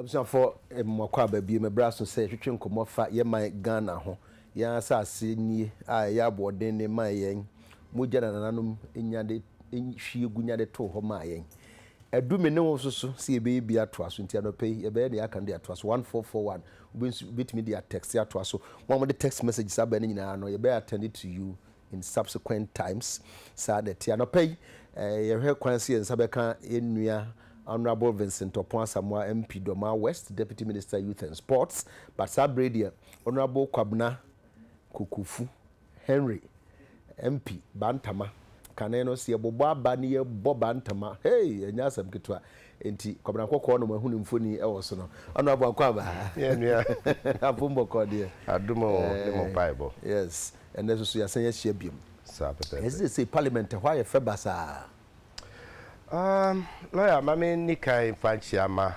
Abusuafoɔ, mmakɔ aba bio. Mɛbrɛ aso sɛ yɛtwetwe nkɔmmɔ fa yɛn man Ghana ho. Yɛn asase nie a ɛyɛ aboɔden ne maa yɛn. Mogya na nananom nya de hwie gu nya de too hɔ maa yɛn. Adu me ne wo nso so sɛ yɛbɛyɛ bi atoa so. Nti anɔpa yi, yɛbɛyɛ deɛ yɛaka no de atoa so. 1441, wobɛtumi de atɛkste atoa so. Mo a mode text messages aba no nyinaa no, yɛbɛ attend to you. in subsequent times, saa na ɛte. Anɔpa yi, yɛhwɛ kwan sɛ yɛn nsa bɛka yɛn nua Honourable Vincent Opon Asamoah MP Dormaa West, Deputy Minister Youth and Sports, but saa berɛ yi deɛ Honourable Kwabena Kokofu Henry MP Bantama, kane no sɛ yɛbobɔ aba ne yɛbɔ Bantama, hey! ɛnyɛ asɛm ketewa, enti Kwabena Kɔkɔɔ na moahu ne mfoni wɔ so no. Honourable Akwaba, Yɛn nua. Apom bɔkɔɔ deɛ. Adom o, ne mo mpaebɔ. Yes. ɛnɛ nso so yɛasan ahyia biom. Saa pɛpɛɛpɛ. Yɛsi sese parliament ɛhɔ ayɛ fɛ basaa. Um, lawyer, ma me ni kan mfa nkyia ma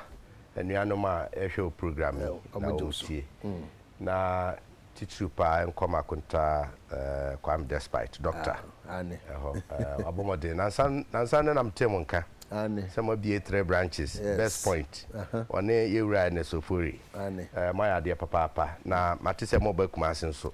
anuanom a ɛhwɛ o program yi na wɔn tie. Mm. Na titiriw paa nkɔm akonta uh, Kwame Despite, doctor. Ah, ane. Ɛhɔ, uh, abɔmɔden. Nansa, nansa ne nam tem nka. Ane. Sɛ mabie three branches, yes. Best Point, uh -huh. ɔne yɛwura Ernest Ofori. Ane. Uh, moayɛ adeɛ papaapa. Na mate sɛ mɔba Kumase nso.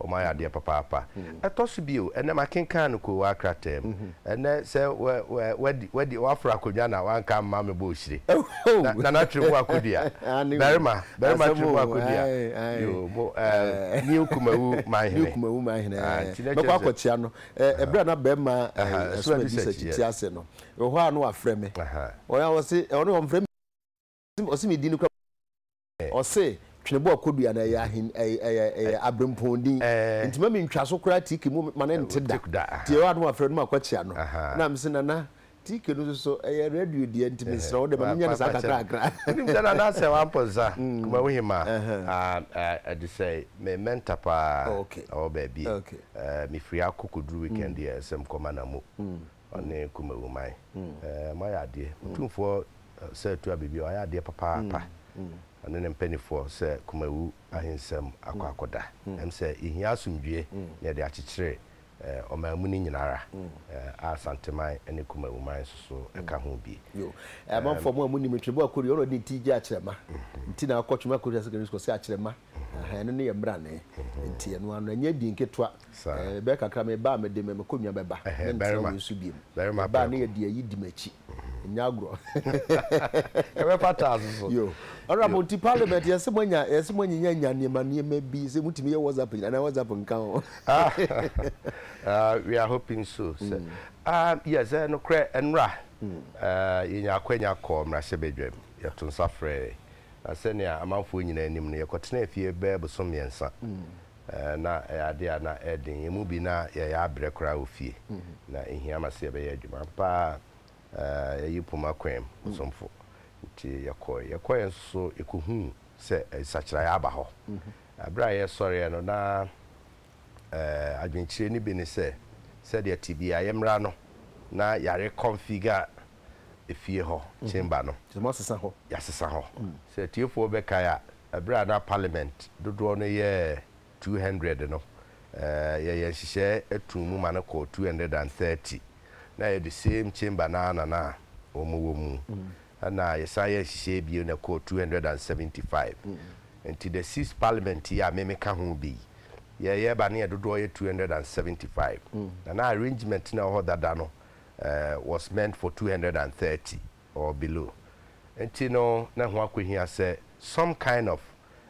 Wɔayɛ adeɛ papaapa. Ɛtɔ so bio, ɛnnɛ makenkan no Koowa krataa mu. Ɛnnɛ sɛ woaforo akonnwa na woanka amma me bɔ ohyire. Nana Twere mu akodua. Barima, barima Twere mu akodua. Yoo, mo ɛɛ New Kumawu Manhene. New Kumawu Manhene, ɛɛ. Mɛkɔ akɔkyea no. Ɛberɛ a na barima Asuadi Sɛkyi te ase no, ɛwɔ hɔ a na wafrɛ me. Ɔse, ɔno deɛ ɔmfrɛ me. Ɔse ne din no kura prɛgɛ. Ɔse twene bɔ akodua no ɛyɛ ahen ɛyɛ ɛyɛ abrempɔn din nti mami ntwa so koraa tike mu ma no nte da nti ɛyɛ a na wafrɛ no ma kɔ kyea no na mese nana tike no soso ɛyɛ radio deɛ nti mesrɛ wo dɛ ma menya no saa kakra kakra. Wonim sɛ nana asɛ wampɔ nsa kumawu hema adesɛe me mɛnta paa ɔwɔ baabi me firi akɔ kɔduru weekend yɛ sɛ mkɔ ma na mo ɔne Kumawuman. Moayɛ adeɛ. Otumfoɔ sɛ Atuah Bibio, wayɛ adeɛ papaapa. Ɔne ne mpaninfoɔ sɛ Kumawu ahensɛm akɔ akɔda. Ɛm sɛ yɛhia asomdwie na yɛde akyekyere ɔmanmu no nyina ara, a Asanteman ne Kumawuman nso so ka ho bi. Yo. Amanfoɔ mo a monim no, Twembo Akorio, ɔna ɔde ne ti gye Akyerɛma. Nti na ɔkɔ Twembo Akorio Secondary School sɛ Akyerɛma. Ahaa, ɛno ne yɛn mmrane. Nti ɛno ara no, ɛnyɛ din ketewa. Saa. Eh, bɛyɛ kakra me ba a mede me me konnwa bɛba. Ɛhɛɛ, Mentra barima. wei so biom. Barima Me ba a na prɛko. yɛ di ayi di m'akyi. Nyɛ agorɔ. Ɛbɛfata nso so. Yo. Honourable, nti Parliament yɛse mo anya, yɛse mo anyinya nya nneɛma nneɛma bi sɛ motumi yɛ WhatsApp nyinaa, anaa WhatsApp nka ho. Ah, ah, we are hoping so. Sɛ, ah, yes, eh, nokorɛ, nnora, ah, yɛnya akwanya kɔɔ mmarahyɛbadwam, yɛto nsa frɛɛe, na sɛnea amanfoɔ nyinaa nim no, yɛkɔtenaa fie bɛyɛ bosome mmiɛnsa. na ɛyɛ ade a na ɛyɛ den. Yɛn mu bi, na yɛyɛ abrɛ koraa wɔ fie. Ná ehia ma sɛ yɛbɛyɛ adwuma. Ampa ara, yɛayi poma kwaam ɔsomfo, enti yɛkɔe. Yɛkɔe nso so yekohuu sɛ nsakyerae aba hɔ. Bere a yɛsɔreeɛ no, na adwenkyerɛ no bi ne sɛ, sɛdeɛ tebea yɛ mmara no, na yare kɔnfiga. efie hɔ, Chamber no. Kyerɛ sɛ moasesa hɔ. Yɛasesa hɔ. Sɛ atiefoɔ bɛkae a, ɛberɛ a na Parliament dodoɔ no yɛ two hundred no, yɛyɛɛ nhyehyɛɛ too mu ma no kɔɔ two hundred and thirty. Na ɛyɛ the same Chamber no ara na na wɔwɔ mu. Ɛna yɛsan yɛɛ nhyehyɛɛ bio na ɛkɔɔ two hundred and seventy five. Nti the six Parliament yi a me meka ho bi yi, yɛyɛ ba na yɛn dodoɔ yɛ two hundred and seventy five. Na na arrangement no a ɛwɔ hɔ dada no, was meant for two hundred and thirty or below nti no na ɛho akɔhia sɛ some kind of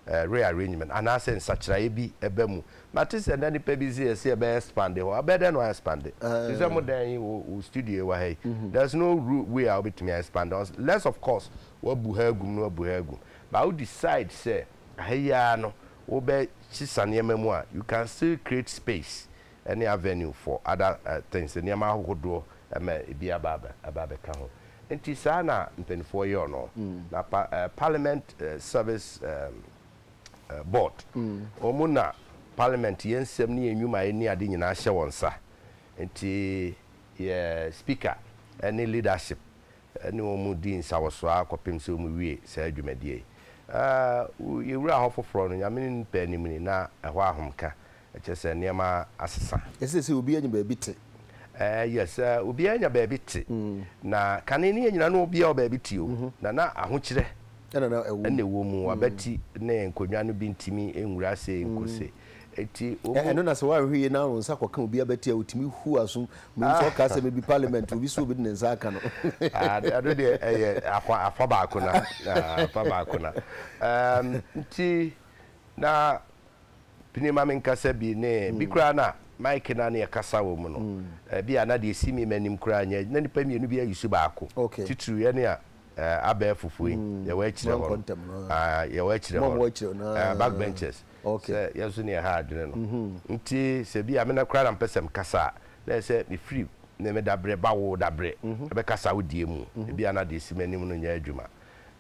rearrangement anaasɛ nsakyeraeɛ bi ba mu. Mate sɛ na nnipa bi se yɛse yɛbɛ expande hɔ, ɛbɛyɛ dɛn na wɔayɛ expande? Te sɛ mo dan yi, wo wo studio yi wɔ ha yi, there's no ru way a wobɛtumi a expande hɔ unless of course woabu ha agum na woabu ha agum but wo decide sɛ ha yi ara no wobɛsesa nneɛma mu a you can still create space ɛne avenue for other things, nneɛma ahohodoɔ ma ɛbi aba aba abɛka ho. Nti saa na mpaninfoɔ yɔɔ no. Na pa Parliament service board, wɔn na Parliament yɛn nsɛm ne yɛn nnwumaeɛ ne ade nyinaa hyɛ wɔn nsa. Nti yɛ Speaker ne leadership ne wɔn dii nsawɔsoaa kɔpem sɛ wɔn wie saa dwumadie yi. Yɛwura hɔ foforɔ no, Nyame ne Nipa anim ni na ɛhɔ ahomka Ɛkyerɛ sɛ nneɛma asesa. Ɛsɛ sɛ obiara nya baabi te. Ɛɛ yes, obiara nya baabi te. Na kane ne yɛn nyinaa no obiara wɔ baabi te o. Na na ahokyerɛ ɛna na ɛwɔ mu. Abati ne nkonnwa no bi ntumi nwura ase nko se. Enti wɔn. Ɛno na sɛ woanhwɛ yie na wo nsa kɔka obi abati a otumi hu aso. Mehu sɛ ɔkaa sɛ maybe parliament obi so obi de ne nsa aka no. Ɛno deɛ ɛyɛ afa afa baako na afa baako na. Ɛɛm nti na Pini ma menkasa bi ne bi koraa no a, mic no a na yɛkasa wɔ mu no, ebi a na deɛ ɛsi me m'anim koraa nyɛ, na nnipa mmienu bi ayusu baako. Titiriw yɛne a abɛɛfofo yi, yɛwɔ akyire hɔ no, ah, yɛwɔ akyire hɔ no, ah, back benchers, sɛ yɛn nso na yɛha adwene no. Nti sɛ bi a me na koraa na mepɛ sɛ mekasa a, na ɛyɛ sɛ mefiri ne me dabrɛ ba wo dabrɛ bɛkasa wo deɛ mu. Ebi a na deɛ ɛsi m'anim no nyɛ adwuma.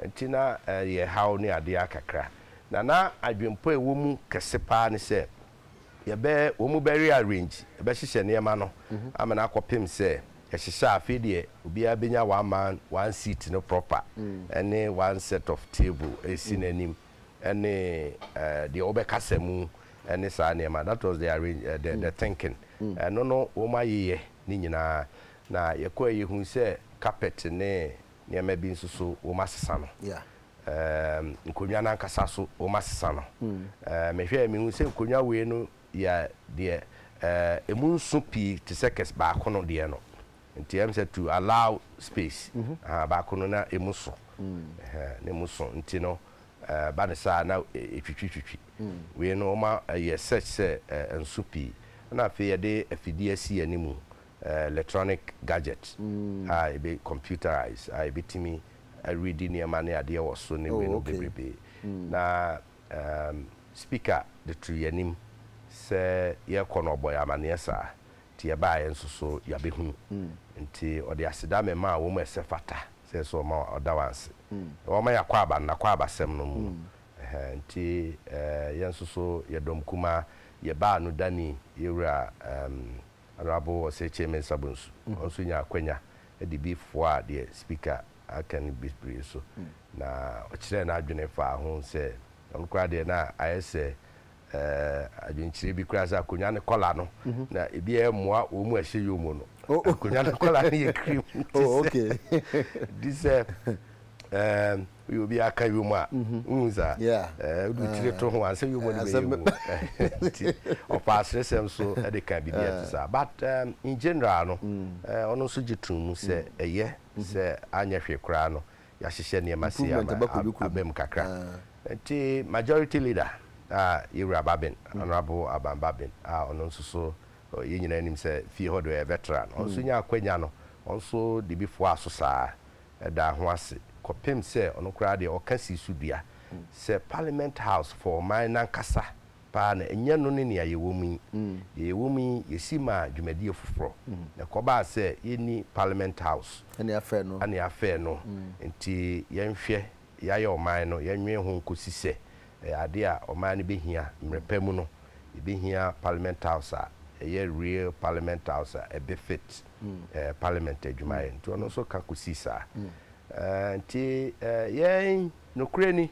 Enti na ɛyɛ haw ne ade ara kakra, na na adwempɔ a ɛwɔ mu kɛse paa ne sɛ yɛbɛ wɔbɛ rearrange, yɛbɛhyehyɛ nneɛma no amene akɔpem sɛ yɛhyehyɛ a afei deɛ obiara bɛnya one man, one seat no proper ne one set of table ɛresi n'anim ne deɛ wɔbɛkasa mu ne saa nneɛma. That was the arrange, the thinking. Ɛno no wɔayeyɛ ne nyinaa, na yɛkɔɛ yɛhuu sɛ carpet ne nneɛma bi nso so wɔasesa no. Ɛɛm, nkonnwa no ankasa so wɔasesa no. Ɛɛ, mehwɛ a mehu sɛ nkonnwa wei no yɛ deɛ ɛɛ, emu nso pii te sɛ kɛse baako no deɛ no. Nti ɛm sɛ to allow space. Mhm. Ahaa, baako no na emu so. Ɛhɛn, na emu so nti no ɛɛ, ba no saa na ɛtwitwitwitwi. Wei no wɔayɛ such sɛ ɛɛ, ɛnso pii. Ɛna afei yɛde afidie asi yɛn anim electronic gadget a ebe computerized a ebetumi areadi nneɛma ne adeɛ wɔ so ne weinom bebrebe. Na speaker de too yɛn anim sɛ yɛrekɔ no ɔbɔ yɛn amaneɛ saa nti yɛbaa yɛn nso so yɛabɛhunu nti ɔde aseda memaa wɔn a ɛsɛ fata sɛ yɛsɛ wɔma ɔda wɔn ase na wɔma y'akwaaba no n'akwaabasɛm no mu no ɛhɛɛ nti yɛn nso so yɛ dɔm kumaa yɛbaa no dani yɛwura ɛɛm Honourable Osei-Kyei Mensah Bonsu, ɔno nso nyaa akwanya de bi foaa deɛ Speaker aka no bi bere so, na ɔkyerɛɛ n'adwene faa ho sɛ ɔno koraa deɛ na ayɛ sɛ eh, adwenkyerɛ bi koraa sɛ akonnwa no kɔla no, na ebi ɛmmoa wɔn a ɛhyɛ yom no. Akonnwa no kɔla no yɛ cream, nti sɛ, nti sɛ eh, Woyɛ obi a aka yom a, wohu saa? Wode wo tiri to ho a, ansa yom no bɛyɛ mu. Nti ɔpaa aseresɛm so de kaa biribi a ɛte saa. But in general no, ɔno nso gye toom mu sɛ ɛyɛ sɛ anyɛ hwee koraa no, yɛahyehyɛ nneɛma sei ama aba mu kakra. Nti Majority Leader a yɛn Wura Babin, Honourable Aban Babin a ɔno nso so yɛn nyinaa nim sɛ fie hɔ deɛ ɔyɛ veteran, ɔno nso nyaa akwanya no, ɔno nso de bi foaa so saa. daa ho ase kɔpem sɛ ɔno koraa deɛ ɔka sii so dua sɛ Parliament House for ɔman no ankasa paa na ɛnyɛ no ne nea yɛwɔ mu yi. Deɛ yɛwɔ mu yi yɛsi maa dwumadie foforɔ na ɛkɔbaa sɛ yɛnni Parliament House Ɛne afɛ no. ɛne afɛ no nti yɛnhwɛ yɛayɛ ɔman no yɛnwene ho nkɔsi sɛ ɛyɛ adeɛ a ɔman no bɛhia mmerɛ pa mu no yɛbɛhia Parliament House a ɛyɛ real Parliament House a ɛbefit ɛɛ parliament adwumayɛ nti ɔno nso ka kɔsi saa ɛɛ nti ɛɛ yɛn nokorɛ ni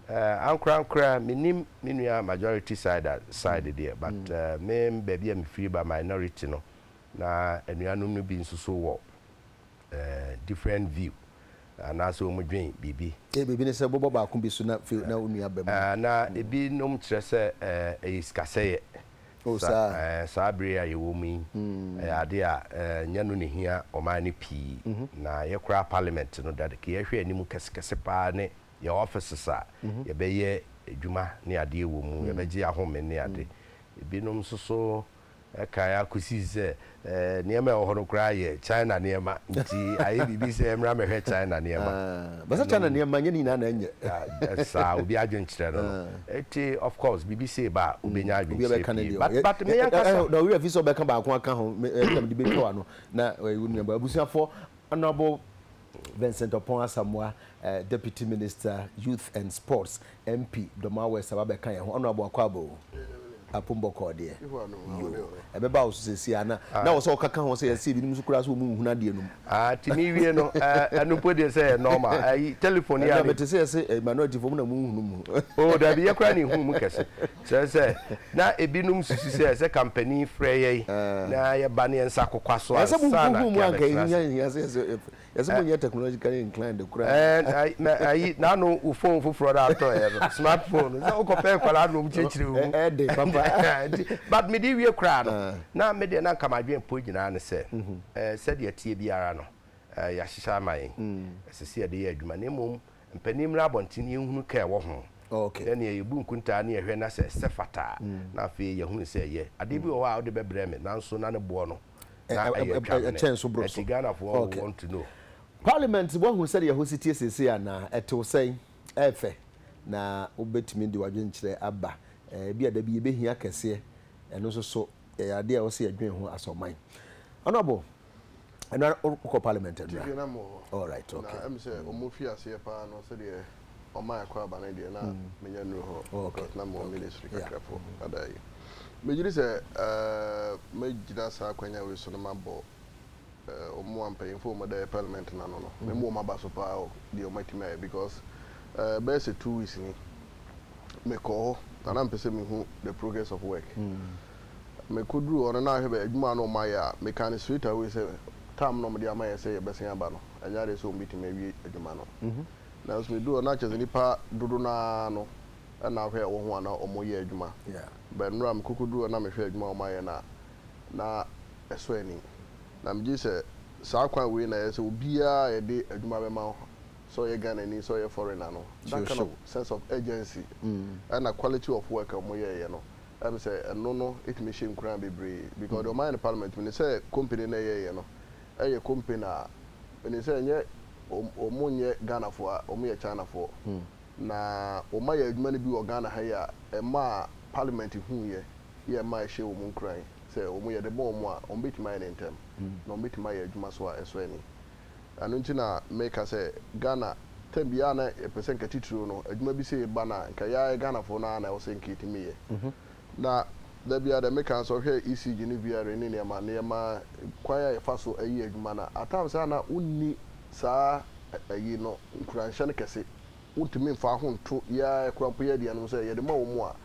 ɛɛ ankorankora menim me nua majority side side deɛ but mm. ɛɛ me baabi a mefiri ba minority no na anuanom no bi nso so wɔ ɛɛ different view anaasɛ wɔn dwen biribi. ee biribi ne sɛ bɔbɔ baako bi so na fi na onua bɛm. na ebinom kyerɛ sɛ ɛyɛ sikasɛyɛ. Saa bere yi a yɛwɔ mu yi, ɛyɛ ade a ɛnyɛ no na ehia ɔman no pii. Na yɛkora Parliament no da no, nea ɛhwɛ anim kɛsekɛse paa ne yɛn offices a yɛbɛyɛ adwuma ne adeɛ wɔ mu, yɛbɛgye ahome ne ade. Ebinom nso so kae ara kosii sɛ Nneɛma a ɛwɔ hɔ no koraa yɛ China nneɛma, nti ayɛ biribi sɛ ɛmmra mmɛhwɛ China nneɛma. Bɛsɛ China nneɛma nyɛ ne nyinaa na ɛnyɛ. Saa, obi adwene kyerɛ no no. Nti of course biribi sei ba a, wobɛnya adwenkyerɛ pii. But but me ankasa. Na wo werɛ afi sɛ wobɛka baako aka ho, ɛno na mede bɛtwa w'ano, na wo nuabaa abusuafoɔ honourable. Vincent Opon Asamoah, Deputy Minister, Youth and Sports, MP, Dormaa West aba bɛka yɛn ho. Honourable Akwabo Apum Bɔkɔɔ deɛ, yoo, ɛbɛba wo so seesei a, na na ɛwɔ sɛ wokaka ho sɛ yɛse ebinom nso koraa sɛ wɔn nhunu adeɛ no mu. Ah, ti mi wie no, eh, ɛno mpo deɛ sɛ ɛyɛ normal, ayi, telephone yi Ɛnna ara ne. mete sɛ yɛse, eh, minority foɔ, mo na monhunu mu. Oh, dabi, yɛ koraa na yɛhunu mu kɛse. Kyerɛ sɛ, na ebinom susu sɛ sɛ kampani frɛ yɛn na yɛba no yɛn nsa kokwa so ansa na yɛabɛtra ase. Ɛɛ, na ayi, n'ano wo fon foforɔ no atɔeɛ no, smart fon no, sɛ wokɔpɛ nkwadaa nom kyerɛkyerɛ wo mu. But mede wie koraa no, na me deɛ na anka m'adwene pɔ nyinaa ne sɛ, sɛdeɛ ɛteɛ biara no, yɛahyehyɛ ama yɛn, ɛsɛ sɛ yɛde yɛ adwuma, na mmom Mpanin mmra abɔnten yɛnhunu ka a ɛwɔ ho, na nea yɛbu nkontaa ne yɛhwɛ na sɛ ɛsɛ fata a, na afei yɛahunu sɛ ɛyɛ. Adeɛ bi wɔ hɔ a wode bɛbrɛ me, nanso na ne boɔ no, na ɛyɛ atwamene. Ɛnti Ghanafoɔ will want to know. Parliament, woahu sɛdeɛ ɛhɔ si teɛ seesei anaa? Ɛte wo sɛn? Ɛyɛ fɛ? Na wobɛtumi de w'adwenkyerɛ aba? Ebia da bi yɛbɛhia kɛseɛ. Ɛno nso so, ɛyɛ adeɛ a ɛwɔ sɛ yɛdwen ho as ɔman. Honourable, ɛno ara wokɔ parliament adura tv na mo hɔ all right okay na ɛm sɛ mm. ɔmo fi aseɛ paa no sɛdeɛ ɔma ɛkɔ aba no deɛ na mm. menya nnuro hɔ oh, okay. because na mo okay. ministry kakrafo yeah. Mm. ada yi megyiri sɛ uh, mɛgyina saa akwanya wei so no mabɔ uh, ɔmo ampanyimfo ɔmo da parliament no ano no mm. memu ɔmo aba so paa o deɛ ɔmo atumi ayɛ because uh, bɛyɛ sɛ two weeks ni mekɔ hɔ na na mpɛ sɛ mehu the progress of work mm. Mekoduruu hɔ no, na ahwɛ bɛ adwuma a na wɔayɛ a, mekaa no straight away sɛ term no a wɔde ama yɛn sɛ yɛbɛsan aba no, ɛnyɛ adeɛ sɛ wɔbɛtumi awie adwuma no. Nanso meduruu hɔ no, na kyerɛ sɛ nnipa dodo no ara no na ahwɛ a ɛwɔ ho a na wɔyɛ adwuma. But mmerɛ a mekɔkɔduruu hɔ na mehwɛɛ adwuma a wɔayɛ no a, na ɛsɔ ani. Na megye di sɛ saa kwan wei na ɛyɛ sɛ obiara a yɛde adwuma bɛma no, sɛ ɔyɛ Ghanani, sɛ ɔyɛ foreigner no, that kind of sense of urgency ɛna quality of work a wɔyɛeɛ no, Ɛne sɛ ɛno no tumi hyɛ nkuran bebree because deɛ ɔmayɛ no parliament menim sɛ company no a ɛyɛɛyɛ no ɛyɛ company a menim sɛ ɛnyɛ wɔn nyɛ Ghanafoɔ a wɔn yɛ Chinafoɔ na wɔn ayɛ adwuma no bi wɔ Ghana ha yi a ɛmaa parliament huiɛ yɛ ɛmaa ɛhyɛɛ wɔn nkuran sɛ wɔn yɛde bɔ wɔn a wɔn bɛtumi ayɛ no ntɛm na wɔn bɛtumi ayɛ adwuma so a ɛsɔ ani ɛno nti na meka sɛ Ghana time biara na yɛpɛ sɛ nka titiriw no adwuma bi sei ba no a nka yɛa yɛ Ghanafoɔ no ara na ɛwɔ sɛ nka yɛtumi yɛ na da biara deɛ meka no sɛ wohwɛ ECG ne VRA ne nneɛma nneɛma kwan a yɛfa so yɛ adwuma no a at times a na wonni saa ayi no nkuranhyɛ no kɛse Wontumi mfa ho nto yɛn ara koraa mpo, yɛn aduanom sɛ yɛde ma wɔn a,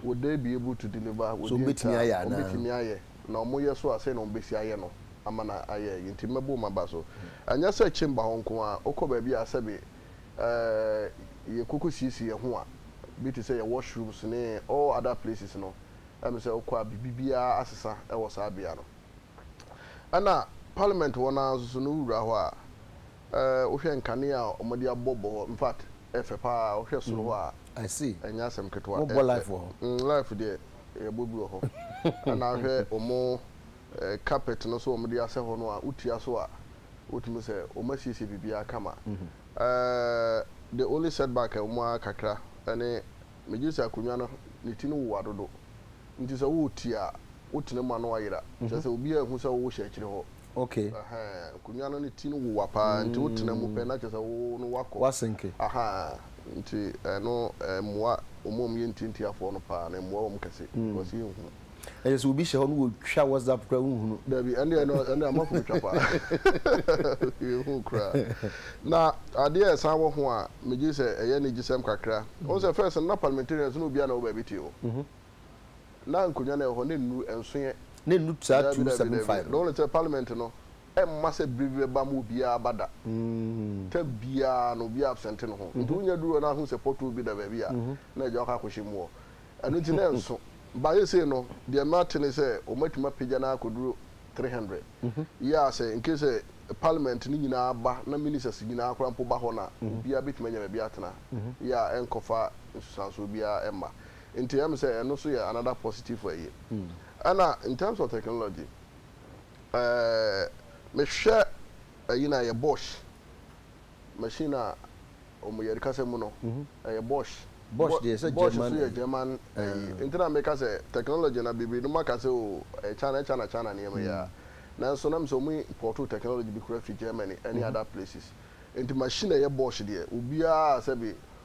would they be able to deliver, So wɔdi wɔbɛtumi ntaa, ayɛ anaa? wɔbɛtumi ayɛ, na wɔyɛ so a, sɛn na wɔbɛsi ayɛ no ama no ayɛ? Enti mmɛbow ma ba so. Anyɛ sɛ chamber hɔ nko ara, wokɔ baabi a sɛbe eh, yɛkɔkɔsiesie yɛn ho a, bi te sɛ yɛn washrooms ne all other places no, ɛme sɛ wokɔ a biribiara asesa wɔ saa bea no. Ɛna parliament hɔ no ara nso so no, wowura hɔ a, Eh wohwɛ nkanea a wɔde abɔ bɔ hɔ infact ɛfɛ paa wohwɛ soro hɔ a ɛnyɛ asɛm ketewa ɛfɛ mm life deɛ yɛbɔ bi wɔ hɔ ɛna wohwɛ wɔn eh carpet no so wɔn de asɛ hɔ no a wotua so a wotumi sɛ wɔn asiesie biribiara kama eh the only setback a ɛwɔ mu ara kakra ɛne megye sɛ akonnwa no ne ti no wowa dodo nti sɛ woretie a wotena mu a na wayera kyerɛ sɛ obiara nhu sɛ wohyɛ akyire hɔ. Okay. Ahaa, nkonnwa no ne ti no wowa paa nti wotena mu pɛ na kyerɛ sɛ wo no woakɔ. Woasenke. Ahaa, nti ɛno ɛmmoa wɔn a wɔyɛ ntiantiafoɔ no paa no, ɛmmoa wɔn kɛse because yɛnhu. Ɛyɛ sɛ obi hyɛ hɔ na wɔtwa WhatsApp koraa wonhunu. Dabi, ɛnneɛ no, ɛnneɛ amafo bɛtwa paa. Yɛnhu koraa. Na adeɛ a ɛsan wɔ ho a megye sɛ ɛyɛ anigyesɛm kakra, wohu sɛ first no na parliamentarians no obiara na ɛwɔ baabi te o. Na nkonnwa no a ɛwɔ hɔ no nnuru nson ɛ. Na ɛnnuru saa two seven five no. Dabi, dabi, dabi. Na wone sɛ parliament no, ɛmma sɛ bere bi bɛba ma obiara aba da. Term biara no, obiara absente ne ho. Nti wonya duru hɔ na ahu sɛ pothole bi da baabi a, na agya wakɔ akɔhyɛ mu hɔ. Ɛno nti na ɛnso. But seesei no, deɛ mate ne sɛ wɔatumi apagya no akɔduru three hundred. Yeah, sɛ in case sɛ parliament no nyinaa ba na ministers nyinaa koraa mpo ba hɔ no a, obiara bɛtumi anya baabi atena. Yeah, ɛnkɔfa nsunsuansoɔ biara mma. Nti ɛyɛ me sɛ ɛno nso yɛ another positive ayie. Ɛna in terms of technology, ɛɛɛ mehwɛ ayi no a ɛyɛ Bosch machine a wɔn yɛde kasa mu no, ɛyɛ Bosch. Bosch deɛ ɛsɛ German. Bosch nso yɛ German ayi. Nti na meka sɛ technology no bebree nom aka sɛ oo ɛyɛ China ɛyɛ China China nneɛma yi aa. Nanso na me sɛ wɔn importoo technology bi koraa firi Germany ɛne other places. Nti machine a ɛyɛ Bosch deɛ obiara sɛbe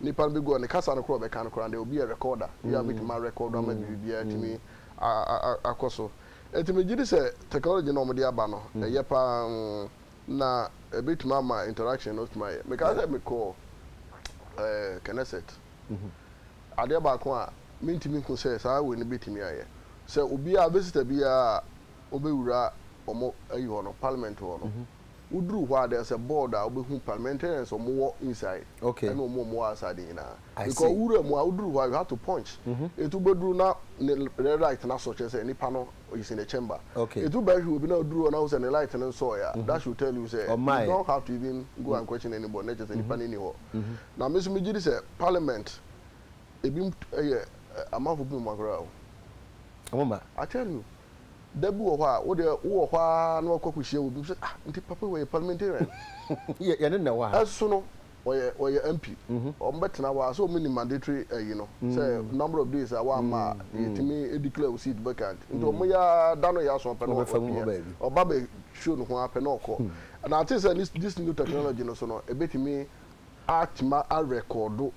Nipa no bɛgu hɔ, ne kasa no koraa a ɔbɛka no koraa no, there will be a recorder bi a bɛtumi a record ama biribiara atumi akɔ so. Nti megye di sɛ technology no a wɔde aba no, ɛyɛ pa ara, na ɛbɛtumi ama interaction no atumi ayɛ. Mekae sɛ mekɔɔ Knesset, adeɛ baako a mentumi nhu sɛ saa wei no bɛtumi ayɛ, sɛ obiara, visitor biara a ɔbɛwura wɔn ayi hɔ no, parliament hɔ no, Woduru hɔ a there is a board a wobɛhu parliamentarians a wɔwɔ inside Okay. ɛne wɔn a wɔwɔ outside no nyinaa. I see. Because wowura mu a woduru hɔ a you have to punch. Enti wobɛduru na ne l- ne light no asɔ kyerɛ sɛ nipa no is in the chamber. Okay. Enti wobɛhwɛ obi na woduru hɔ na wohu sɛ ne light no nsɔɔɛ a that should tell you sɛ you Ɔmmaeɛ. don't have to even go and question anybody na kyerɛ sɛ nipa no nni hɔ. Na me nso megye di sɛ parliament Ebinom yɛ amanfo bi mu mma koraa o. Ɔmo mma. I tell you, da bi wɔ hɔ a, wo deɛ wo wɔ hɔ ara na wakɔ akɔ hyia obi, sɛ ah nti papa yi wɔyɛ parliamentarian. Yɛ yɛne na ɛwɔ ha. Ɛso no, wɔyɛ wɔyɛ MP. Wɔn bɛ tena hɔ a, sɛ wɔn nim mandatory ɛyi no, sɛ number of days a wɔamma a, yɛtumi declare wo seat vacant. Nti wɔn yɛ ara da no yɛ aso a, pɛ na ɔpia. Ɔba bɛ show ne ho ara pɛ na ɔkɔ. And I think sɛ this new technology no so no, ebetumi atuma a record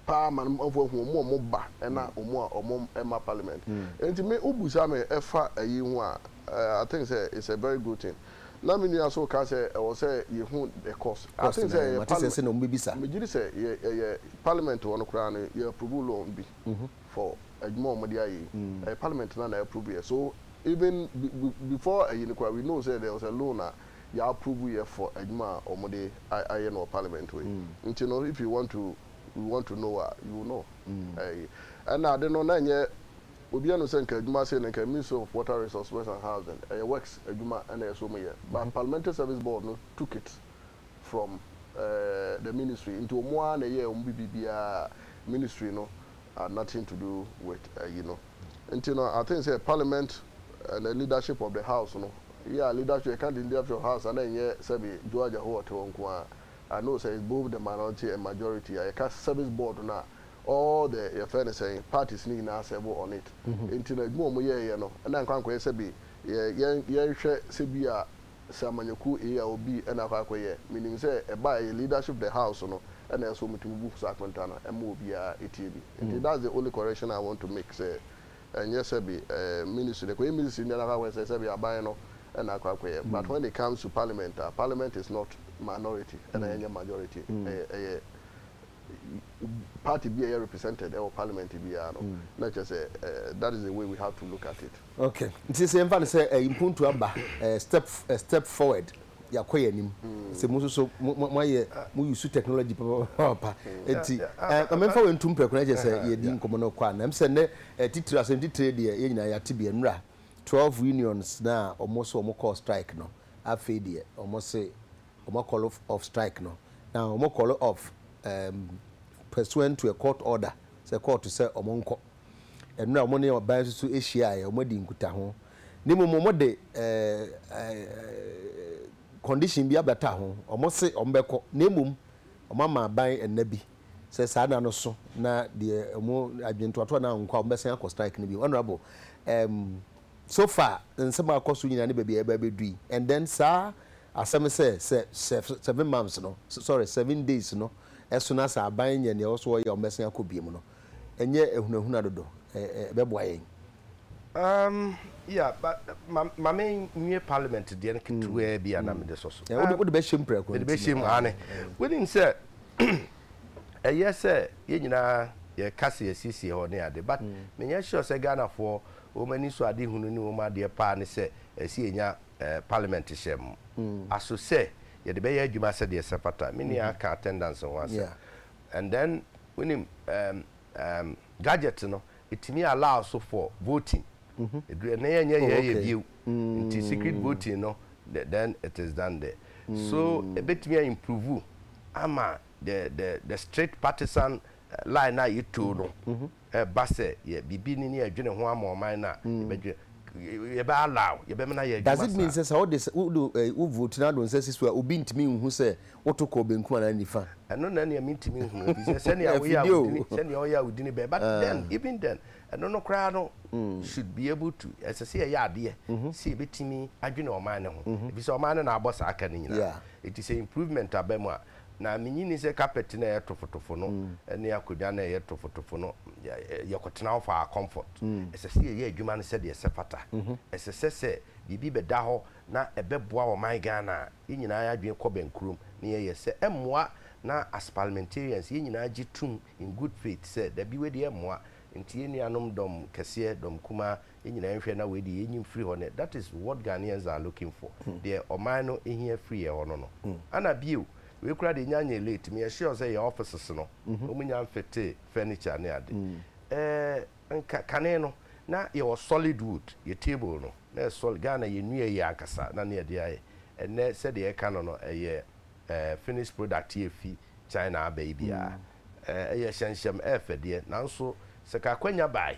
paa ma no manfo ahu ɔmo a ɔmo ba ɛna ɔmo a ɔmo mma parliament ɛnti me wo busa me ɛfa ɛyi ho a I think sɛ it's a very good thing na me nua so ka sɛ ɛwɔ sɛ yɛ hu the cost I think sɛ ɛyɛ parliament me gyiri sɛ yɛ ɛyɛ parliament hɔ no koraa no yɛ approve loan bi for adwuma a ɔmo de ayɛ yi ɛyɛ parliament na na approve yɛ so even before ɛyi no koraa we know sɛ there was a loan a yɛ approve yɛ for adwuma a wɔn de ayɛ no wɔ parliament hɔ yi nti no if you want to you want to know a you will know ɛyi ɛna ade no na ɛnyɛ obi ɛnu sɛ nka adwuma sei no nka ministry of water resource west and housing ɛyɛ works adwuma ɛna ɛsɛ wɔn yɛ but parliamentary service board no took it from ɛɛ the ministry nti wɔn ara na ɛyɛ wɔn bibi biara ministry no had nothing to do with ɛyi no. Nti no I think sɛ parliament and leadership of the house no yeah leadership yɛka leadership of house a na ɛnyɛ sɛbi Joe Agyahoo ɔte hɔ nko ara I know sɛ it's both the minority and majority a yɛka service board no a all the yɛfrɛ no sɛn parties no nyinaa serve on it nti no adwuma a wɔyɛɛyɛ no na ɛnkɔ ankɔyɛ sɛbi yɛn yɛnhwɛ sɛbi a sɛ amanyɔkuo ei a obi na akɔ akɔ yɛ menim sɛ ɛba a ɛyɛ leadership the house no na ɛsɛ wɔn tumi bu saa akonta no ɛma obiara ɛtie bi nti that's the only correction I want to make sɛ ɛnyɛ sɛbi ɛɛ ministry no ɛkɔ yɛ ministry no na akɔ akɔ sɛ sɛbi aban no na akɔ akɔ yɛ but when it comes to parliament a parliament is not minority ɛna ɛnyɛ majority ɛyɛ ɛyɛ party bi a ɛyɛ represented ɛwɔ parliament biara no na kyerɛ sɛ that is the way we have to look at it. Okay nti sɛ yɛmfa no sɛ ɛyi mpuntu aba ɛɛ step ɛɛ step forward yɛakɔ yɛn anim sɛ mo nso so mo mo ayɛ mo use technology papa nti ɛɛ ma memfa wei ntu mpɛ kora kyerɛ sɛ yɛdi nkɔmɔ no kɔ a na sɛ nnɛ ɛɛ titire asɛm titire deɛ yɛn nyinaa yɛate bi nnura twelve unions na wɔn so wɔn kɔɔ strike no afei deɛ wɔn se. wɔn akɔlo off strike no na wɔn kɔlo off um, pursuant to a court order sɛ kɔɔto sɛ wɔn nkɔ. Ɛnora wɔn ne ɔbaa nso so hyiaeɛ, wɔn adi nkutaho. Ne mmom wɔn de uh, uh, condition bi abata ho, wɔn se wɔn bɛkɔ, na mmom wɔn ama aban ɛnna bi sɛ saa nna no so na deɛ wɔn adwentoatoa no ankɔ a wɔn bɛsan akɔ strike no bio. Honourable, um, so far nsɛm a akɔ so nyinaa ne baabi a yɛreba abɛdu yi and then saa asɛm sɛ sɛ sɛ seven months no sorry seven days no so na sɛ aban nyɛ nea ɛwɔ so wɔyɛ a wɔbɛsan akɔ biom no ɛnyɛ ahunahuna dodo ɛ ɛ ɛbɛboa yɛn. Um, yeah, but ma ma me nwie parliament deɛ no ketewaa bi a na mede sɔ so. Wode wode bɛhyɛ mu prɛko. Mede bɛhyɛ mu ane. Wonim sɛ ɛyɛ sɛ yɛn nyinaa yɛka sɛ yɛsiesie hɔ ne ade but menyɛ sure sɛ Ghanafoɔ Wɔn anisoadehunu ne wɔn adeɛ paa ne sɛ ɛsɛ yɛnya Parliament hyɛm aso sɛ yɛde bɛyɛ adwuma sɛdeɛ ɛsɛ fata. Me nua ka attendance ho asɛm and then wonim ehm gadget no ɛtumi allow so for voting ɛduru ɛnnɛ yɛnyɛ yɛ yɛ bio nti secret voting no then it is done there so ɛbɛtumi a improve ama the the the strict partisan line no a yɛtoo no Ɛba sɛ yɛ biribi ni ne yɛdwene ho ama ɔman no a, yɛbɛdwene, yɛbɛ allow, yɛbɛmena yɛ adwuma saa. Does it mean sɛ sɛ wode wode wo vote no adɔ nsa siso a obi ntumi nhu sɛ woto kɔɔ benkum anaa nifa? Ɛno na nea mentumi nhu efisɛ sɛnea woyɛ a wodi ne, sɛnea ɔyɛ a wodi ne bɛ. But then, even then, ɛno no koraa no should be able to, ɛsɛ sɛ yɛyɛ adeɛ sɛ yɛbɛtumi adwene ɔman no ho efisɛ ɔman no na abɔ saa ka no nyinaa. Enti sɛ improvement aba mu a, Na minnye nni sɛ kapɛt no a ɛyɛ tofotofo no ne akonnwa no a ɛyɛ tofotofo no yɛ kɔtena hɔ faa comfort. Ɛsɛ sɛ yɛyɛ adwuma no sɛdeɛ ɛsɛfata. Ɛsɛ sɛ sɛ biribi bɛda hɔ na ɛbɛboa ɔman Ghana a, yɛn nyinaa adwene kɔ bɛnkurom na yɛyɛ. Sɛ ɛmmoa na as parliamentarians yɛn nyinaa gye tum in good faith sɛ dabi wei deɛ ɛmmoa. Nti yɛn nuanom dɔm kɛseɛ, dɔm kumaa, yɛn nyinaa nhwɛ na wei de yɛnyi mfiri hɔ ne that is what Ghanaians are looking for deɛ ɔman no hia firi yɛn hɔ no no ana bio wei koraa deɛ ɛnya nyɛ late meyɛ sure sɛ yɛn offices no wɔn nya mfete furniture ne ade ɛɛ nka kane no na yɛwɔ solid wood yɛ table no na yɛ solid Ghana yɛnnua yie ankasa na ne yɛde ayɛ ɛnnɛ sɛdeɛ yɛka no no ɛyɛ ɛɛ finished product yi efi China aba yi biara ɛɛ ɛyɛ hyɛnhyɛm ɛɛfɛ deɛ nanso sɛ ka akwanya bae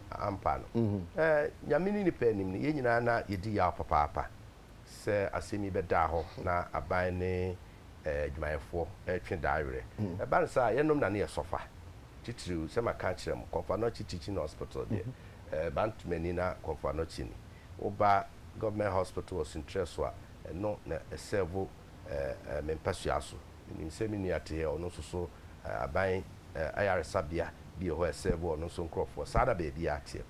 ampa no. Nyame ne nnipa anim no, yɛn nyinaa na yɛdi yaw papaapa sɛ asɛm yi bɛdaa hɔ na aban ne adwumayɛfoɔ retwe daa werɛ. Ɛba no saa a, yɛnom na ne yɛ sɔfa. Titiriw, sɛ maka akyerɛ mo, Komfo Anokye Teaching Hospital deɛ, Bantuman ni na Komfo Anokye ni. Woba Government Hospital wɔ Sunkyerɛ so a, ɛno na ɛsɛɛvo me mpasua so. Menim sɛ me nua Tee a ɔno nso so aban ayaresabea bi wɔ hɔ a ɛsɛɛve ɔno nso nkorɔfoɔ. Saa na baabiara teɛ.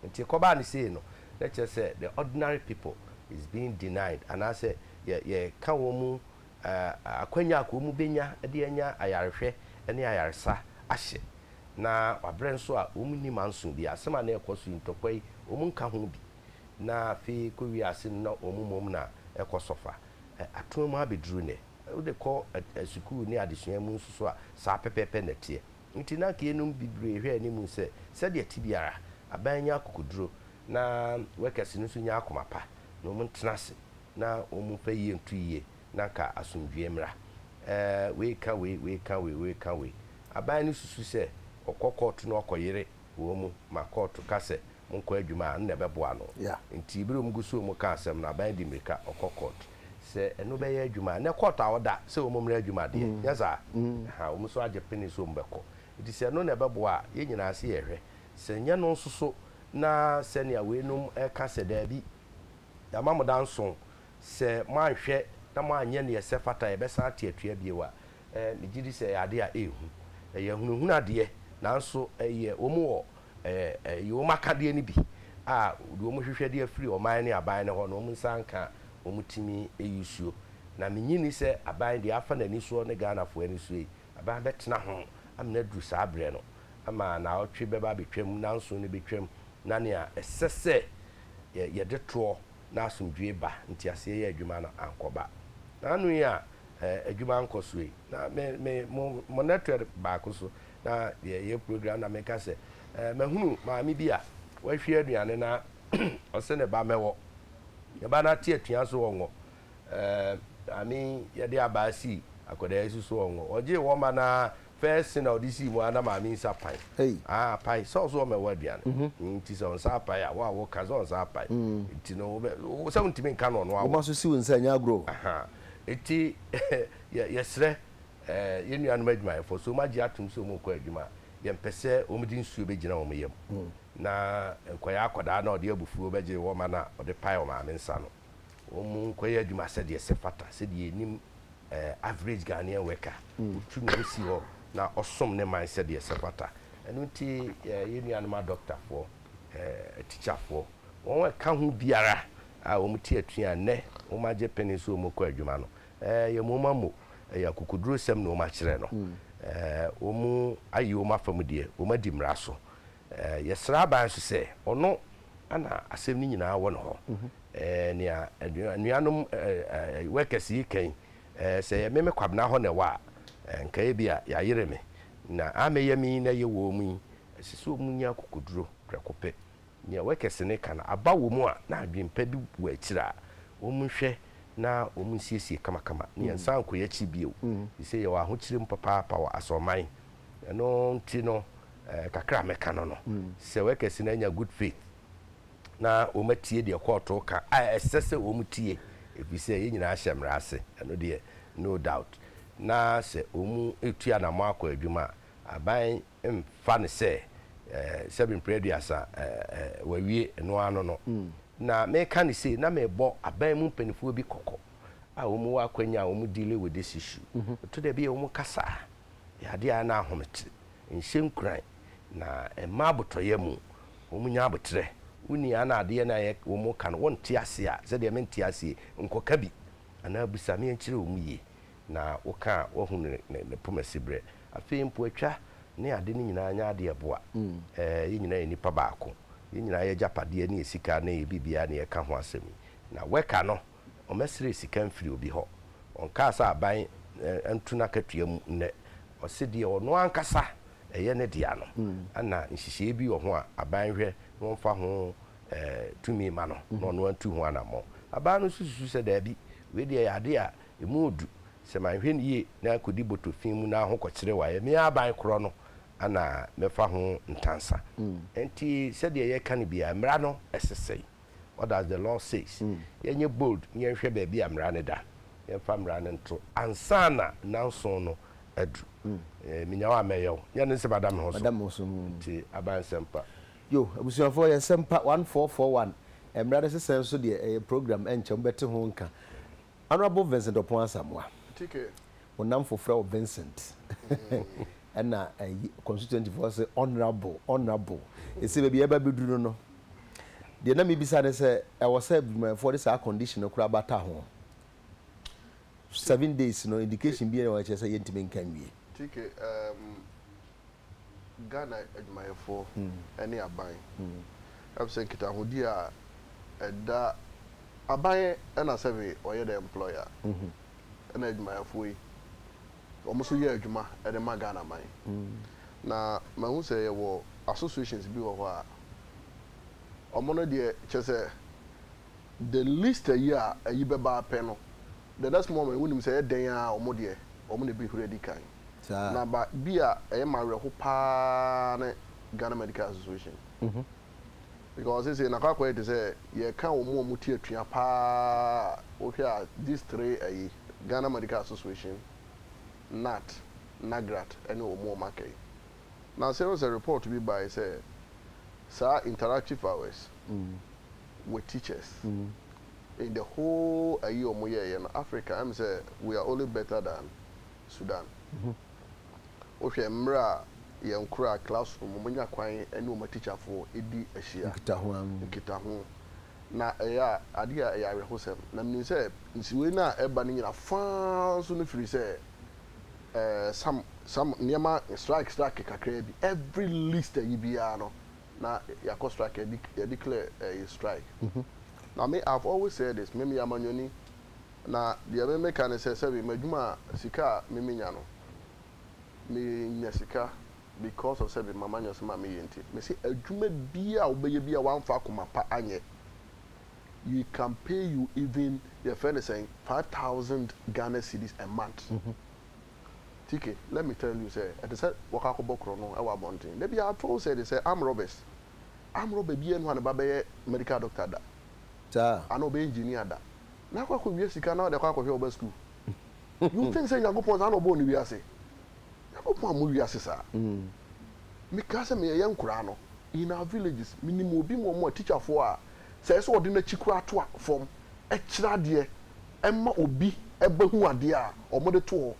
Nti kɔbaa no sei no, na kyerɛ sɛ the ordinary people is being denied anaasɛ yɛ yɛka wɔn akwanya a ka wɔn bɛnya de anya ayarehwɛ ne ayaresa ahyɛ. Na wabrɛ nso a wɔn nni manso biara. Asɛm a na ɛrekɔ so yi, ntɔkwa yi, wɔn nka ho bi. na afei kɔ wiase no na wɔn mmom na ɛkɔ so fa. Atena mu abɛduru nnɛ. Wode kɔ sukuu ne adesua mu nso so a, saa pɛpɛɛpɛ na ɛteɛ. Enti na anka yeinom bebree hwɛ anim sɛ, sɛdeɛ ɛte biara, aban nyɛ akokoduro, na workers no nso nyɛ akoma pa, na wɔntena ase na wɔmfa yie nto yie, na anka asomdwoeɛ mmra. Ɛɛ, wei ka wei, wei ka wei, wei ka wei. Aban no susu sɛ, ɔkɔ kɔɔto na ɔkɔyere wɔn mu ma kɔɔto ka sɛ, monkɔ adwuma a, nna ɛbɛboa no. Enti bere a wɔgu so reka asɛm no, aban de mmirika kɔ kɔɔt. Sɛ ɛno bɛyɛ adwuma a, ɛnnɛ kɔɔt a wɔda sɛ wɔmmrɛ adwuma deɛ, nyɛ saa? Ɛhã, wɔn nso agye pene sɛ wɔbɛkɔ. Enti sɛ ɛno na ɛbɛboa a, yɛn nyinaa se yɛhwɛ. Sɛ ɛnyɛ ɛno nso so, na sɛnea weinom reka sɛ dabi, yɛama mo da nson, sɛ moanhwɛ na moanyɛ nea ɛsɛ fata a, yɛbɛsan ate atua bio a, ɛɛ, megye di sɛ ɛyɛ adeɛ a ɛyɛ hu. Ɛyɛ ahunahuna deɛ, nanso ɛyɛ wɔn wɔ Ɛyɛ ɛyi wɔn akadeɛ no bi a wɔde wɔn hwehwɛ de afiri ɔman ne aban no hɔ na wɔn nsa anka a wɔn tumi yi suo. Na me nnye nni sɛ aban deɛ afa n'ani soɔ ne Ghanafoɔ ani soɔ yi, aban bɛtena ho amena aduru saa berɛ no ama naawɔtwe bɛba abɛtwam, nanson no bɛtwam na nea ɛsɛ sɛ yɛ yɛde toɔ na asomdwoeɛ ba, nteaseɛ yɛ adwuma no ankɔba. Na ano yi a ɛɛ adwuma nkɔ soɔ yi na me me mo mo network baako so na yɛyɛ program na meka sɛ eh, mahunu maame bi a wahwie aduane na ɔse ne ba mɛwɔ ne ba no ate atua so ɔngɔ eh, maame yɛde abaa sii akwadaa yi so so ɔngɔ ɔgyee wɔ ma na first thing na ɔde sii mu a na maame nsa pan hey. ah, apae sɛ ɔso ɔmɛwɔ aduane mm -hmm. nti sɛ ɔnsa apae a wo a woka sɛ ɔnsa apae mm -hmm. nti no sɛ wontumi nka no ɔno awo woma so si wo nsa nyɛ agorɔ ɛti yɛserɛ Ɛɛ, yɛn nuanom adwumayɛfo, so moagye atom sɛ wɔrekɔ adwuma a, yɛmpɛ sɛ wɔde nsuo bɛgyina wɔn yam, na nkwayaa akwadaa no a ɔde abufuo bɛgye wɔn ma na ɔde pae wɔn maame nsa no, wɔnkɔyɛ adwuma sɛdeɛ ɛsɛ fata, sɛdeɛ yɛnim ɛɛ average Ghanaian worker, ɔtu ne ho si hɔ na ɔsom ne man sɛdeɛ ɛsɛ fata. Ɛno nti, ɛɛ, yɛn nuanom adɔkotafoɔ, ɛɛ, atikyafoɔ, wɔn a ɛka ho biara a wɔte atua a nnɛ wɔagye pene sɛ wɔrekɔ adwuma no, Ɛɛ, yɛ mooma mo, ɛyɛ akokodurusɛm na wɔn akyerɛ no. Ɛɛ, wɔn ayi wɔn afa mu deɛ, wɔn adi mmara so. Ɛɛ, yɛ sra aban nso sɛ, ɔno na asɛm no nyinaa wɔ ne hɔ. Ɛɛ, nea anuanom ɛɛ, workers yi ka yi, ɛɛ, sɛ ɛyɛ me me Kwabena hɔ na ɛwɔ a, nka ebia yɛayere me. Na amɛyɛ me yi na ɛyɛ wɔn yi, ɛsɛ sɛ wɔn nya akokoduro prɛko pɛ. Nea wɔkɛse no ka no aba wɔ mu a na adwene pa bi wɔ akyiri a wɔnhwɛ na wɔnsiesie kamakama na yɛnsan nkɔ yɛn akyiri bio, efisɛ yɛwɔ ahokyere mu papaapa wɔ asorɔman. Ɛno nti no, kakra a mɛka no no, sɛ wɔkɛse no anya good faith na wɔatie deɛ kɔɔto reka a, ɛsɛ sɛ wɔtie, efisɛ yɛn nyinaa hyɛ mmara ase, ɛno deɛ no doubt, na sɛ wɔretu anammɔn akɔ adwuma a, aban mfa no sɛ sɛbe mprɛ aduasa wɔawie ɛno ara no no. Na meka no sei na mebɔ aban mu mpanimfoɔ bi kɔkɔ a wɔwɔ akwanya a wɔn dealing with this issue. Ɛto da bi a wɔn kasa a yɛ adeɛ a na ahomete, nhyɛ nkuran na ɛma abotɔyɛ mu. Wɔn nya aboterɛ. Wo ni a na adeɛ no a wɔn ka no wɔnte aseɛ a sɛdeɛ mente aseɛ yi nkɔka bi anaa bisa me nkyerɛ wɔn yie. Na woka a, woahu ne, ne, ne poma siberɛ. Afei mpoatwa ne ade no nyinaa nyɛ adeɛ a ɛboa. Ɛɛ, yɛn nyinaa yɛ nnipa baako. Yɛn nyinaa y'agyapadeɛ ne yɛn sika ne yɛn biribiara na yɛreka ho asɛm yi. Na worker no, ɔmmɛsrɛ sika mfiri obi hɔ. Ɔnkaa sɛ aban nto n'akatua mu nnɛ. Ɔse deɛ ɔno ankasa ɛyɛ ne dea no, ɛna nhyehyɛeɛ bi wɔ ho a aban hwɛ na wɔmfa ho, ɛɛ, tumi mma no, na ɔno antu ho anammɔn. Aban no nso susu sɛ, Daabi, wei deɛ ɛyɛ adeɛ a Emu du. Sɛ mannhwɛ no yie na ankɔdi bɔtɔ fi mu na ahokɔkyerɛ wɔ a, ɛyɛ me aban korɔ no na mɛfa ho ntansa. Enti sɛdeɛ yɛreka no biara, mmara no se sɛn? What does the law says? Yɛnyɛ bold na yɛnhwɛ baabi a mmara no da. Yɛmfa mmara no nto ansa na nnanson no aduru. Menya wo a, mɛyɛ wo. Nyɛ ne sɛ mada me ho so. Nti aban nsɛmpa. Yo, abusuafoɔ, yɛ nsɛmpa one four four one. Mmara no se sɛn nso deɛ, ɛyɛ program, ɛnkyɛ mobɛte ho nka. Honourable Vincent Opon Asamoah, wo nnamfo frɛ wo Vincent ɛna ayi constituent foɔ se Honourable, Honourable, ɛsei baabi yɛba bɛduru no no, deɛ na mebisa ne sɛ ɛwɔ sɛ adwumayɛfoɔ de saa condition no koraa bata ho? Seven days no indication biara wɔ hɔ a ɛkyerɛ sɛ yɛntumi nka nwie? Ghana adwumayɛfoɔ ne aban. Ɛfiri sɛ nkitahodie a ɛda aban ɛna sɛbe ɔyɛ dɛ employer ɛna adwumayɛfoɔ yi wɔn nso yɛ adwuma de ma Ghana man. Na mahu sɛ yɛwɔ associations bi wɔ hɔ a wɔn no deɛ kyerɛ sɛ the least ayi a ayi bɛba pɛ no the next moment wonim sɛ ɛyɛ dɛn ara wɔn deɛ wɔn na ɛbɛhuri adi kan. Na ba bi a ɛyɛ me awerɛho pa ara ne Ghana Medical Association because seesei no akɔ akɔyɛ te sɛ yɛka wɔn a wɔte atua pa ara a wohwɛ a these three ayi, Ghana Medical Association, NAT, NAGRAT ne wɔn a wɔaka yi. Na sɛ wohu sɛ report bi baeɛ sɛ saa interactive hours with teachers in the whole ayi ɔmo yɛɛyɛ no Africa ɛm sɛ we are only better than Sudan wo hwɛ mmerɛ a yɛn koraa class room ɔmo nya kwan ɛne ɔmo atikyafoɔ ɛdi ahyia nkitaho na ɛyɛ adeɛ a ɛyɛ awerɛhosɛm na menim sɛ nsiwei no a ɛba no nyina faa nso no firi sɛ ɛɛ some some nneɛma strike strike kakraa bi every least ayi biara no. na yɛakɔ strike yɛde yɛ declare ɛyi strike na me I have always said this me meyɛ amanyɔni na deɛ me meka ne sɛ sɛbi m'adwuma a sika a me menya no me nya sika because of sɛbi m'amanyɔsɛm a me yɛ nti me se adwuma biaa a wo bɛyɛ biaa w'anfa akoma pa anyɛ we can pay you even yɛfrɛ ne sɛn five thousand Ghana cedis a month. Tike, let me tell you sɛ ɛte sɛ wɔkɔ akɔbɔ korɔno wɔ abɔnten. Da biara tow sɛ de sɛ armed robbers. Armed robber biara nni hɔ a ne ba bɛyɛ medical doctor da. Saa? Anaa ɔbɛyɛ engineer da. Na akɔ akɔwia sika na ɔde akɔ akɔhwɛ wo ba sukuu. You think sɛ Nyankopɔn saa na ɔbɔɔ ne wiase? Nyankopɔn ammɔ wiase saa. Mekaa sɛ meyɛyɛ nkoraa no, in our villages, menim obi mu wɔn a teacherfoɔ a Sɛ ɛyɛ sɛ ɔde n'akyi koraa to fam kyerɛ adeɛ ma obi ba hu adeɛ a wɔde to hɔ.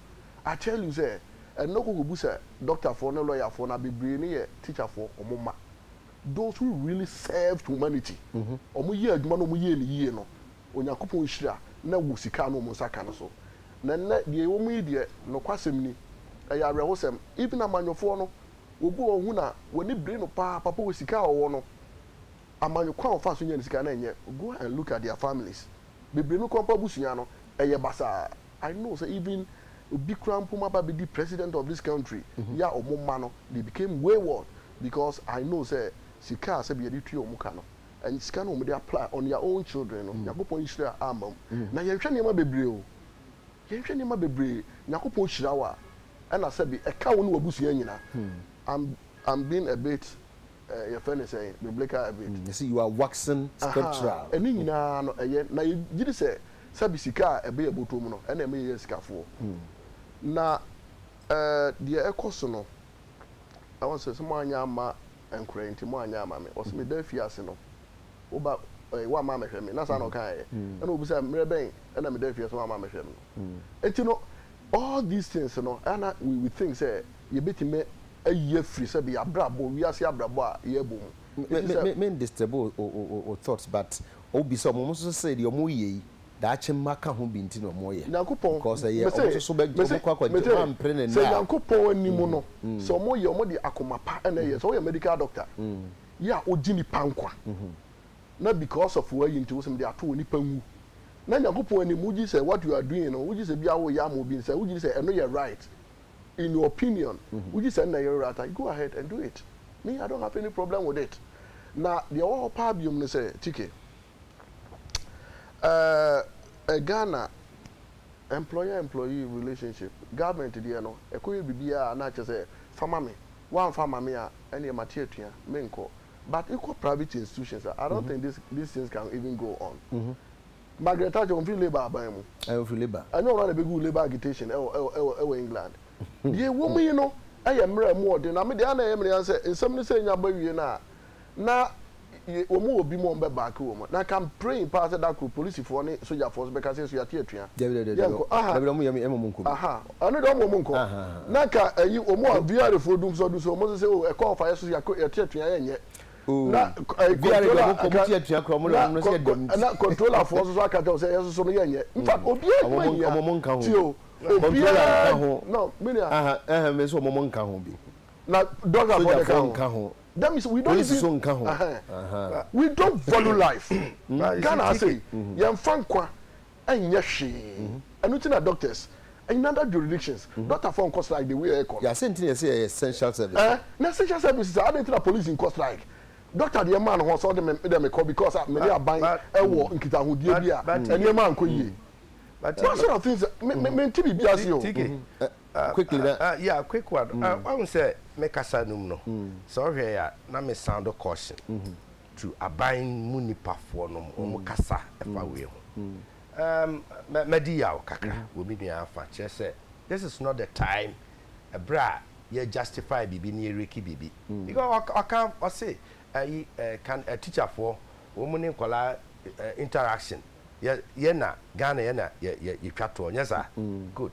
I tell you sɛ, ɛnnɛ kɔ kɔbu sɛ dɔktafoɔ ne lɔyafoɔ no a bebree no yɛ tikyafoɔ, wɔn mma. Those who really served humanity, wɔyɛɛ adwuma na wɔyɛɛ no yie no, Onyankopɔn nhyira na ɛwɔ sika a na wɔn nsa ka no so. Na ɛnnɛ deɛ yɛwɔ mu yi deɛ, nokwasɛm ni, ɛyɛ awerɛhosɛm. Even amanyɔfoɔ no, obi wɔ hɔ ɔhu no a, w'ani bere no pa ara, papa wɔ sika a ɔwɔ no, amanyɔ kwan a wɔfaa so nyaa ne sika na ɛnyɛ go and look at their families bebree no koraa mpo abusua no ɛyɛ basaa I know sɛ even obi koraa mpo ma ba abɛdi president of this country yɛ a wɔn mma no they became wayward because I know sɛ sika a sɛbi yɛde tua wɔn ka no ɛnyɛ sika no a wɔde apply on their own children no Nyankopɔn nhyira amma mu na yɛnhwɛ nneɛma bebree o yɛnhwɛ nneɛma bebree Nyankopɔn hyira wo a ɛna sɛbi ɛka wo ne w'abusua nyinaa I'm I'm being a bit eh, yɛfrɛ no sɛn, biblical habit. Yɛse you are waxing scriptural. Aha, ɛne nyinaa no ɛyɛ, na yɛgyedi sɛ sɛbi sika a ɛbɛ yɛ bɔtɔ mu no ɛna ɛma yɛyɛ asikafoɔ. Na eh, deɛ ɛkɔ so no, na ɔse sɛ moanyɛ amma nkorɛ yi nti moanyɛ amma me, ɔse meda afiase no woba eh, woamma ammɛhwɛ me, na saa na ɔkaeɛ, ɛna ɔbisaɛ mmerɛ bɛn na meda afiase na woamma ammɛhwɛ me no nti no, All these things no ɛyɛ a na we we think sɛ yɛbɛtumi ayi afiri sɛ bi yɛabrabɔ, wiase abrabɔ a yɛbɔ mu. Me me me me disturb wo wo wo wo thoughts but wo bisa ɔmo, ɔmo nso so sɛ deɛ ɔmo yɛ yi daakye mma ka ho bi nti na ɔmo yɛ Nyankopɔn, because ɛyɛ ɔmo mese, nso so bɛ ɔmo mese, kɔ akɔ nti ɔmo mese, ampere ne sɛ nnɛ a Nyankopɔn anim no, sɛ ɔmo yɛ, ɔmo de akoma pa na ɛyɛ, sɛ woyɛ medical doctor, yɛ a wogye nipa nkwa, na because of w'ayi nti wosɛ mede ato hɔ nipa nwu na Nyankopɔn anim wogye sɛ what you are doing no wogye sɛ bia woyɛ ama obi nsɛ wogye sɛ ɛno yɛ right in your opinion wogye sɛ ɛnna yɛ right a go ahead and do it me I don't have any problem with it na deɛ ɛwɔ hɔ paa biom no sɛ Chike ɛɛ uh, Ghana employer employee relationship government deɛ no ɛkɔyɛ biribiara na akyɛ sɛ fama me woamfa ma me a ɛneɛ mate atua menkɔ but wokɔ private institutions a, I don't mm -hmm. think this, these things can even go on. Mm -hmm. Margaret Thatcher, ɔmfiri labour aban mu. Ɔmfiri labour. Ɛnyɛ ɔno na ɛbɛgu labour agitation ɛwɔ ɛwɔ ɛwɔ ɛwɔ England. Deɛ ɛwɔ mu yi no ɛyɛ mmerɛ mu ɔden na me deɛ ana ɛyɛ mmerɛ yan sɛ nsɛm no sɛ nya bɔ awie no a na wɔn wɔ bi mu wɔn bɛ baaki wɔn na kan praying paa sɛ dakoro polisifoɔ ne sogyafoɔ so bɛka sɛ so yɛate atua. Dabi dabi dabi dabi wɔn yɛ mu yɛ mu nkɔ bi. Ano de ɔmo ɔmo nkɔ na ka ɛyi ɔmo a. Biare foɔ dum sɔ du sɔ ɔmo so sɛ oh ɛkɔ ɔfa yɛ so so yɛ te atua yɛ nyɛ na ɛyi controller aka na controller foɔ so so aka kyɛw sɛ yɛ so so no yɛ nyɛ nfa obiara adwuma nyia ti o obiara no me nua. Ɛhɛn me nso ɔmo ɔmo nka ho bi. Na dɔkta foɔ de ka nka ho. That means we don't even polisi so nka ho. We don't value life Ghana ha sei yɛn fa nkwa ɛnyɛ hwee ɛno nti na doctors in other juridictions doctor foɔ nkɔ strike the way ɛyɛ kɔ no. Yɛase nti na yɛse ɛyɛ essential service. Ɛɛ na essential service saa adɛn nti na police nkɔ strike doctor deɛ maa ne ho sɛ ɔde me deɛ mekɔ because a me ne aban ɛwɔ nkitahodie bi a nneɛma ankɔ yie those sort of things me me mente biribi ase o. TK quickly na. Yeah quick one wahu sɛ me kasa no mu no sɛ wohwɛ a na me sound caution tu aban mu nnipa foɔ nom wɔn kasa ɛfa wei ho. Um, madi yaw kakra wɔ me nua afa kyerɛ sɛ this is not the time ɛberɛ a yɛ justify biribi ne yɛ reki biribi. Because ɔka ɔse ayi kan teacher foɔ wɔn ne nkɔlaa interaction yɛ na Ghana yɛ na yɛtwa toɔ nyɛ saa? Good.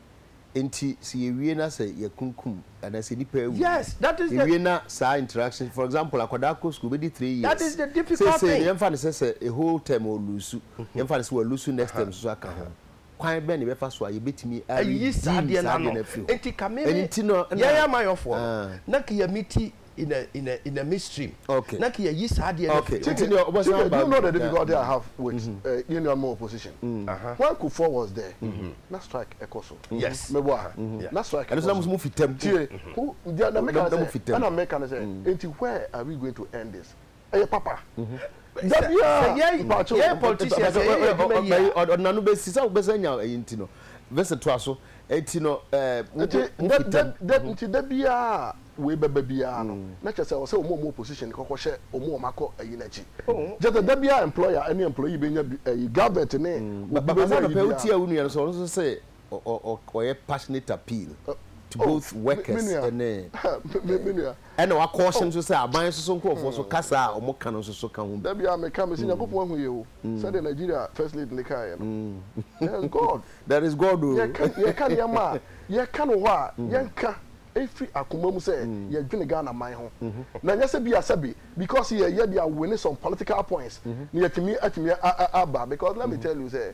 nti sɛ yɛwie na sɛ yɛkunkum anaa sɛ nipa awu yɛwie na saa interaction for example akwadaa kɔ school bɛdi three years seesei no yɛmfa no sɛ sɛ a whole term wɔ lusu mhm. yɛmfa no sɛ wɔ lusu next term soso aka ho kwan bɛn na yɛbɛfa so a yɛbɛtumi ayi saa deɛ no afiri hɔ ɛnti no yɛyɛ amayɔfoɔ ah. na kiyamiti in a in a in a midstream. Okay. Na kìyà yí sáà diẹ náà fi. Okay. Nti ni ọbọ sá ọba. Do you know the difficulty I have with yẹn nua mu opposition? When Kufuor was there, na strike ẹkọ so. Yes. Mẹ bọ a, na strike ẹkọ so. Ẹni sọ na mo sọ mo fi tẹm. Tie, na mi ka ni sẹ, ẹna mi ka ni sẹ, nti where are we going to end this? ɛyɛ papa da biara mpakyɛw yɛyɛ politicians yɛyɛ yɛ adwuma yie a ɔdena no bɛsi sɛ wobɛsɛ nya ɛyi nti no vɛsɛ toa so ɛti no nti da biara wei bɛba biara no na kyɛ sɛ ɔsɛ ɔmo ɔmo opposition kɔkɔ hyɛ ɔmo ɔmo akɔ ɛyi n'akyi kyɛ sɛ da biara employer ɛne employee bɛnya ɛyi government ne obi bɛnya ɛyi biara. ɔyɛ passionate appeal to oh, both workers ne ɛna wakɔ ɔhyɛ nso sɛ aban nso so nkurɔfoɔ nso kasa a wɔn ka no nso so ka ho bi. dabi a meka mesi nyakopɔn ahu yɛ o sɛdeɛ nigeria first lady ne kaa yɛ no there is god there is god o yɛka nneɛma a yɛka no hɔ a yɛnka ɛfiri akoma mu sɛ yɛdwene ghana man ho na nyɛ sɛ bi a sɛbe because yɛyɛ de awene some political points na yɛtumi atumi aba because let me tell you sɛ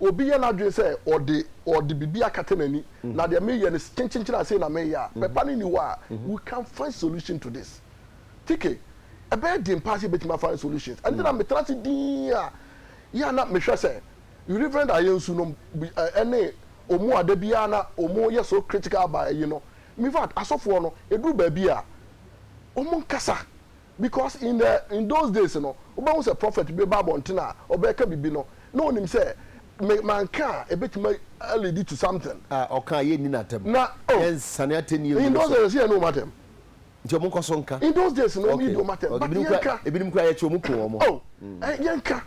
obi yɛ n'adwene sɛ ɔde ɔde biribi akata n'ani na deɛ meyɛ no kyenkyenkyen a sei na meyɛ a, pɛpa no nni hɔ a we can find solution to this. Tike, ɛbɛyɛ den paa sɛ yɛbɛtumi a find solutions. Ɛno nti na metena ase dinn a yɛ a na mehwɛ sɛ Reverend Ayensu nom ne wɔn a da biara na wɔyɛ so critical about ayi no. In fact, asɔfoɔ no, ɛduru baabi a wɔnkasa. Because in the in those days no, wobɛhu sɛ prophet bi bɛba abɔnten a, ɔbɛka biribi no, na ɔnim sɛ me manka a, ɛbɛtumi alidi to something. A ɔka a, yɛnni no atɛm. Na, oh. Yɛnsane atɛnnie ngu ne so. In those days, yɛnni wɔn atɛm. Nti wɔn nkɔ so nka. In those days no, wɔn nni wɔn atɛm. But yɛnka. Ebinom kura yɛkyi wɔn kun wɔn. Oh, yɛnka.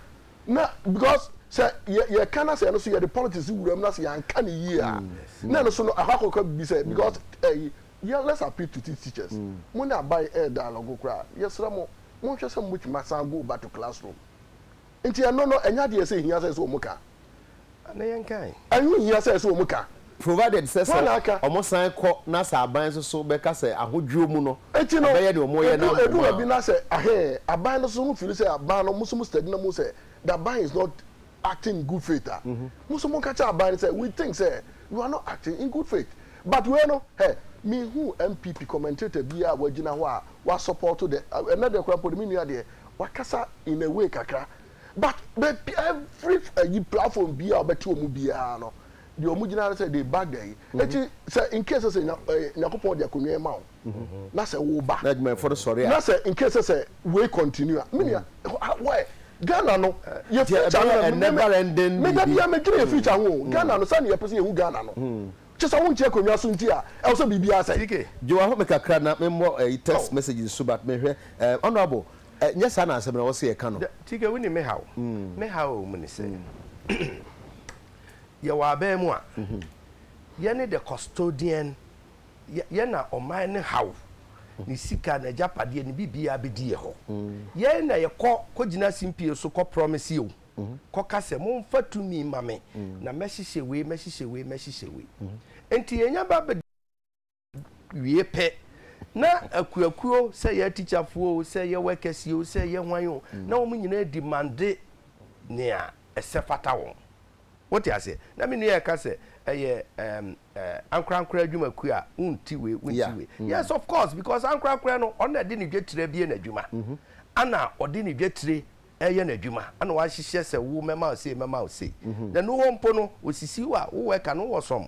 Na because sɛ yɛ yɛka na sɛ ɛno so yɛde politics wura mu na sɛ yɛanka ne yie a, na ɛno so no ɛhɔ akɔka biribi sɛ because ɛyi Yɛ let's appeal to these teachers mo ne aban ɛyɛ dialogue koraa yɛsrɛ mo mo nhwɛ sɛ mo bɛtumi asan go back to class room nti ɛno no ɛnyɛ adeɛ ɛsɛ ɛhia sɛ ɛsɛ wɔn ka Ana yɛn kan? Ɛho nhia sɛ ɛsɛ wɔn ka. Provided sɛ sɛ wɔn san kɔ na sɛ aban nso so bɛka sɛ ahodwoɔ mu no ɔbɛyɛ deɛ wɔn yɛ no abom a. Ɛdu baabi na sɛ ahee aban no nso so mo feel sɛ aban no mo nso mo study na mo hu sɛ the aban is not acting in good faith a, mo nso monka kyerɛ aban no sɛ we think sɛ you are not acting in good faith. But wei no, hɛ, menhuu NPP commentator biara a wagyina hɔ a wasɔpɔɔto the, ɛnnɛ deɛ koraa mpo no, me nua deɛ, wakasa in a way kakra. But baabi, every ayi platform biara a wobɛte wɔn biara no, deɛ wɔgyina ara ne sɛ they back the ayi. Enti sɛ in case sɛ Nya, ɛɛ, Nyankopɔn de akonnwa yi ma wo, na sɛ wo ba. na adwumayɛfoɔ no sɔre a. na sɛ in case sɛ wei continue a, me nua, why, Ghana no, yɛ Deɛ future ɛbɛyɛ no, a me, me, never ending me, da biribi. biara medwene yɛ future ho o, Ghana no, sɛdeɛ yɛpɛ sɛ yɛhu Ghana no, kyɛ sɛ wonte akonnwa so nti a, ɛwɔ sɛ biribiara sɛe. TK, Joe ahɔ me kakra na memmɔ ɛyi text Oh. message nso but mehwɛ, eh, Honourable, eh, nyɛ saa na asɛm no ɛwɔ sɛ yɛka no. Dɛ, TK, wonim me haw? Me haw a ɛwɔ mu ne sɛ, yɛwɔ aban mu a, yɛne the custodian yɛ yɛn na ɔman no haw ne sika n'agyapadeɛ ne biribiara bɛdi yɛ hɔ yɛn na yɛkɔ kɔgyina simpie so kɔ promise yɛ o kɔka sɛ momfa tumi ma me na mɛhyehyɛ wei mɛhyehyɛ wei mɛhyehyɛ wei nti yɛnya ba bɛ wie pɛ na akuakuo sɛ yɛ atikyafoɔ o sɛ yɛ wɛkɛsi o sɛ yɛ hwan o na wɔn nyinaa di mande nea ɛsɛ fata wɔn Wote aseɛ? Na me nua reka sɛ, Ɛyɛ ɛɛm, ɛɛ, ankorankorɛ adwumakuo a wonti wei, wonti Yeah. wei. Mm. Yes, of course, because ankorankorɛ no, ɔno na ɛde ne dwetire abue n'adwuma. Ɛna ɔde ne dwetire reyɛ n'adwuma. Ɛna wahyehyɛ sɛ, Wo, mɛma wo sei, mɛma wo sei. Na ɛno hɔ mpo no, ɔsisi wo a, wo worker no, wowɔ some